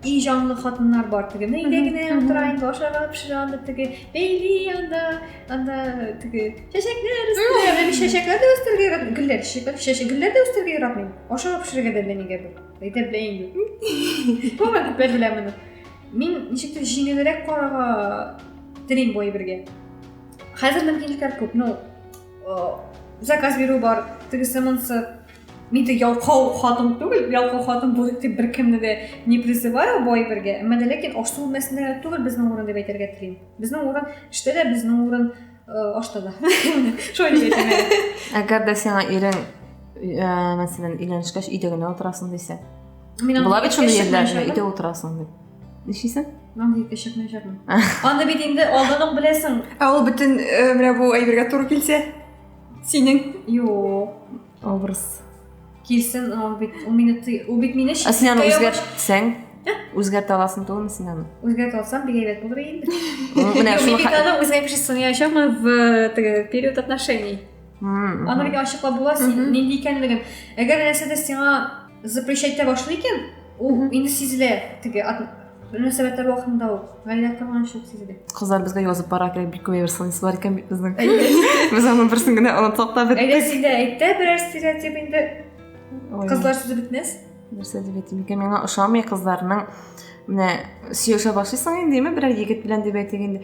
и җанлы хатыннар бар теге өйдә генә утыра инде ашарга пешерә анда теге бәйли анда анда теге чәчәкләр үстерә мен чәчәкләр дә үстерергә яратмыйм гөлләр чәчәкләр чәчәк гөлләр дә үстерергә яратмыйм ашарга пешерергә дә белмәгәнгә бер әйтә белә инде тора күпләр белә моны мин ничектер җиңелрәк карарга телим бу әйбергә Хәзер мөмкинлекләр күп, ну, заказ бирү бар, тегесе монсы. Мин дә ялкау хатын түгел, ялкау хатын булып дип беркемне дә не призываю бу әйбергә. Әмма дә ләкин ашу мәсьәлә түгел безнең урын дип әйтергә телим. Безнең урын эштә дә, безнең урын ашта да. Шулай дип әйтәм. Әгәр дә сиңа ирең, мәсәлән, өйләнешкәч, өйдә генә утырасың дисә. Була бит шундый ирләр, өйдә утырасың дип. Нишлисең? Мам дип кешекне җырмын. Аны бит инде алданың беләсең. Ә ул бөтен э, менә бу әйбергә туры килсә? Синең? Юк. Образ. Килсен, ул бит ул мине ты- ул бит мине Ә син аны читкә ябыш- үзгәртсәң? Үзгәртә аласың түгелме син аны? Үзгәртә алсам, бик әйбәт булыр иде. Ну, Менә Мин шуны бит ха- аны үзгә кеше сынаячакмы в э, теге период отношений. Мгм, Аны мгм. бит ачыклап була син Мгм. нинди икәнлеген. Әгәр нәрсәдер сиңа запрещать итә башлый икән ул инде сизелә теге мөнәсәбәтләр вакытында ук гаилә корганчылык сизелә кызлар безгә язып бара кирәк бик күп сынысы бар икән бит безнең без аның берсен генә онытсак та беттек әйдә син дә әйт тә берәр стереотип инде кызлар сүзе бетмәс нәрсә дип әйтим икән миңа ошамый кызларның менә сөйләшә башлыйсың инде ме берәр егет белән дип әйтик инде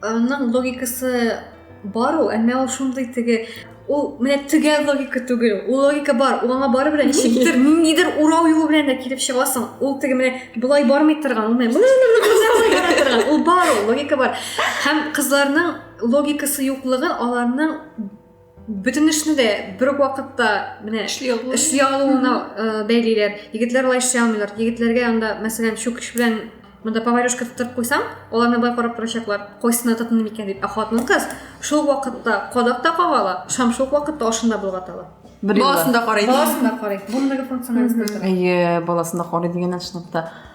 Аның логикасы бар ул, әмма ул шундый теге ул менә төгәл логика түгел ул логика бар ул аңа бары белән ничектер ниндидер урау юлы белән дә килеп чыгасың ул теге менә болай бармый торган ул менә ул бар ул логика бар һәм кызларның логикасы юклыгы аларның бөтен эшне дә бер үк вакытта менә эшли алу эшли алуына бәйлиләр егетләр алай эшли алмыйлар егетләргә анда мәсәлән чүкеч белән мында поварешка тотып куйсаң алар мына карап торачаклар кайсына тотынды микән дип ә хатын кыз шул вакытта кадак та кага ала шам шул вакытта ашын да болгата ала баласын да карый баласын да карый бу мегафункциональность әйе баласын да карый дигәннән чынлап та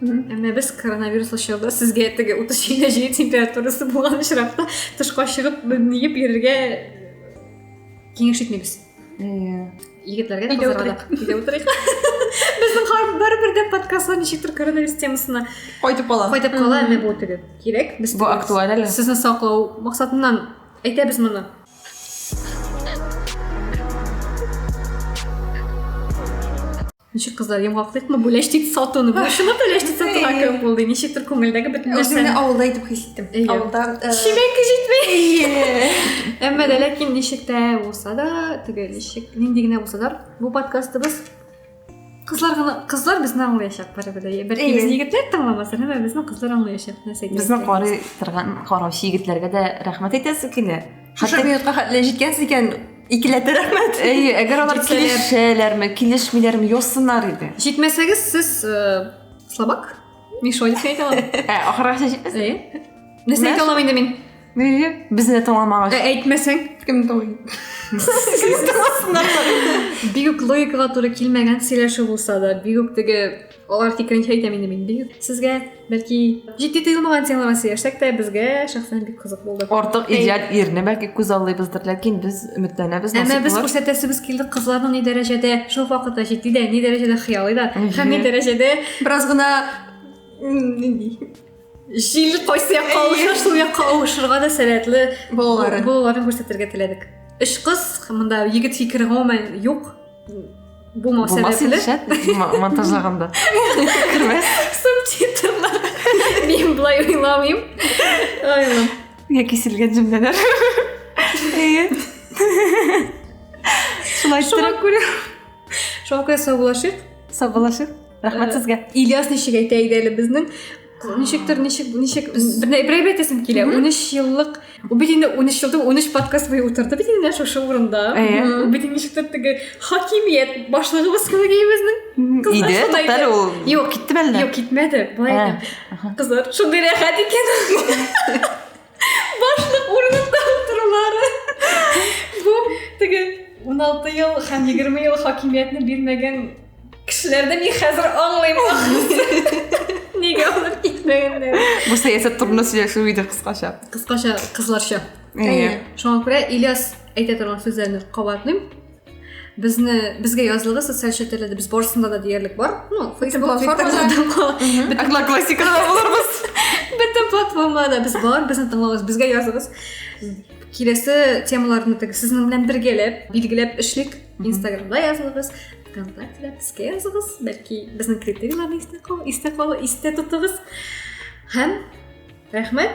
Әмма без коронавируслы чорда сезгә теге 37 җиде температурасы булган очракта тышка чыгып ниеп йөрергә киңәш итмибез. Әйе. Егетләргә дә кызларга Өйдә утырыйк. Безнең хар бер-бер дә подкастлар ничектер коронавирус темасына кайтып кала. Кайтып кала, әмма бу теге кирәк. Без бу актуаль әле. Сезне саклау максатыннан әйтәбез моны. ничек кызлар йомгаклыйкмы бүләштик сатуны шуны түләштик сатуга кем булды ничектер күңелдәге бөтен нәрсәне үземне авылда итеп хис иттем авылда чебенки җитми әмма дә ләкин ничек тә булса да теге ничек нинди генә булса да бу подкастыбыз кызлар гына кызлар безне аңлаячак барыбер дә бәлки безне егетләр тыңламас әмма безне кызлар аңлаячак нәрсә безне карый торган караучы егетләргә дә рәхмәт әйтәсе килә Шушы минутка хәтле җиткәнсез икән, икеләтә рәхмәт. Әйе, әгәр алар килешәләрме, килешмиләрме, язсыннар иде. Җитмәсәгез, сез э, слабак. Мин шулай дип әйтә алам. Ә, ахыргача җитмәсә. Әйе. Нәрсә әйтә алам инде мин? Әйе, безне тыңламагач. Ә әйтмәсәң, кем тыңлый? Бигүк логикага туры килмәгән сөйләшү булса да, бигүк теге Алар фикеренчә әйтәм инде мин. Бигүк сезгә бәлки җитди тыелмаган темалар сөйләшсәк тә безгә шәхсән бик кызык булды. Артык идеаль ирне бәлки күз аллыйбыздыр, ләкин без өметләнәбез. Әмма без күрсәтәсебез килде кызларның ни дәрәҗәдә шул вакытта җитди дә, ни дәрәҗәдә хыялый да, һәм ни дәрәҗәдә бераз гына нинди җил кайсы якка авыша шул якка авышырга да сәләтле балаларын балаларын күрсәтергә теләдек өч кыз монда егет фикере гомумән юк булмау сәбәпле монтажлаганда кермәс субтитрлар мин былай уйламыйм миңа киселгән җөмләләр әйе шулай шуңа күрә шуңа күрә саубулашыйк саубулашыйк рахмәт сезгә ильяс ничек әйтә иде әле безнең ничектер ничек ничек берәйбер әйтәсем килә унөч еллык ул бит инде унөч елда унөч подкаст буе утырды бит инде шушы урында ул бит ничектер теге хакимият башлыгыбыз кебек безнең иде туктале ул юк киттеме әллә юк китмәде былай кызлар шундый рәхәт икән Башлык урыныннан торулары. Бу теге 16 ел һәм 20 ел хакимиятне бирмәгән кешеләрдә мин хәзер аңлыйм нигә алып китмәгәннәр бу сәясәт турында сөйләшү иде кыскача кыскача кызларча шуңа күрә ильяс әйтә торган сүзләрне кабатлыйм Безне, безгә язылыгы социаль челтәрләрдә без барысында да диярлек бар. Ну, Facebook, Twitter, Одноклассникада да булырбыз. Бөтен платформада без бар, безне тыңлагыз, безгә языгыз. Киләсе темаларны тек сезнең белән бергәләп, билгеләп эшлик. Инстаграмда языгыз, ВКонтактеда безгә языгыз, бәлки безнең критерийларны истә калу, истә калу, истә тотыгыз. Һәм рәхмәт.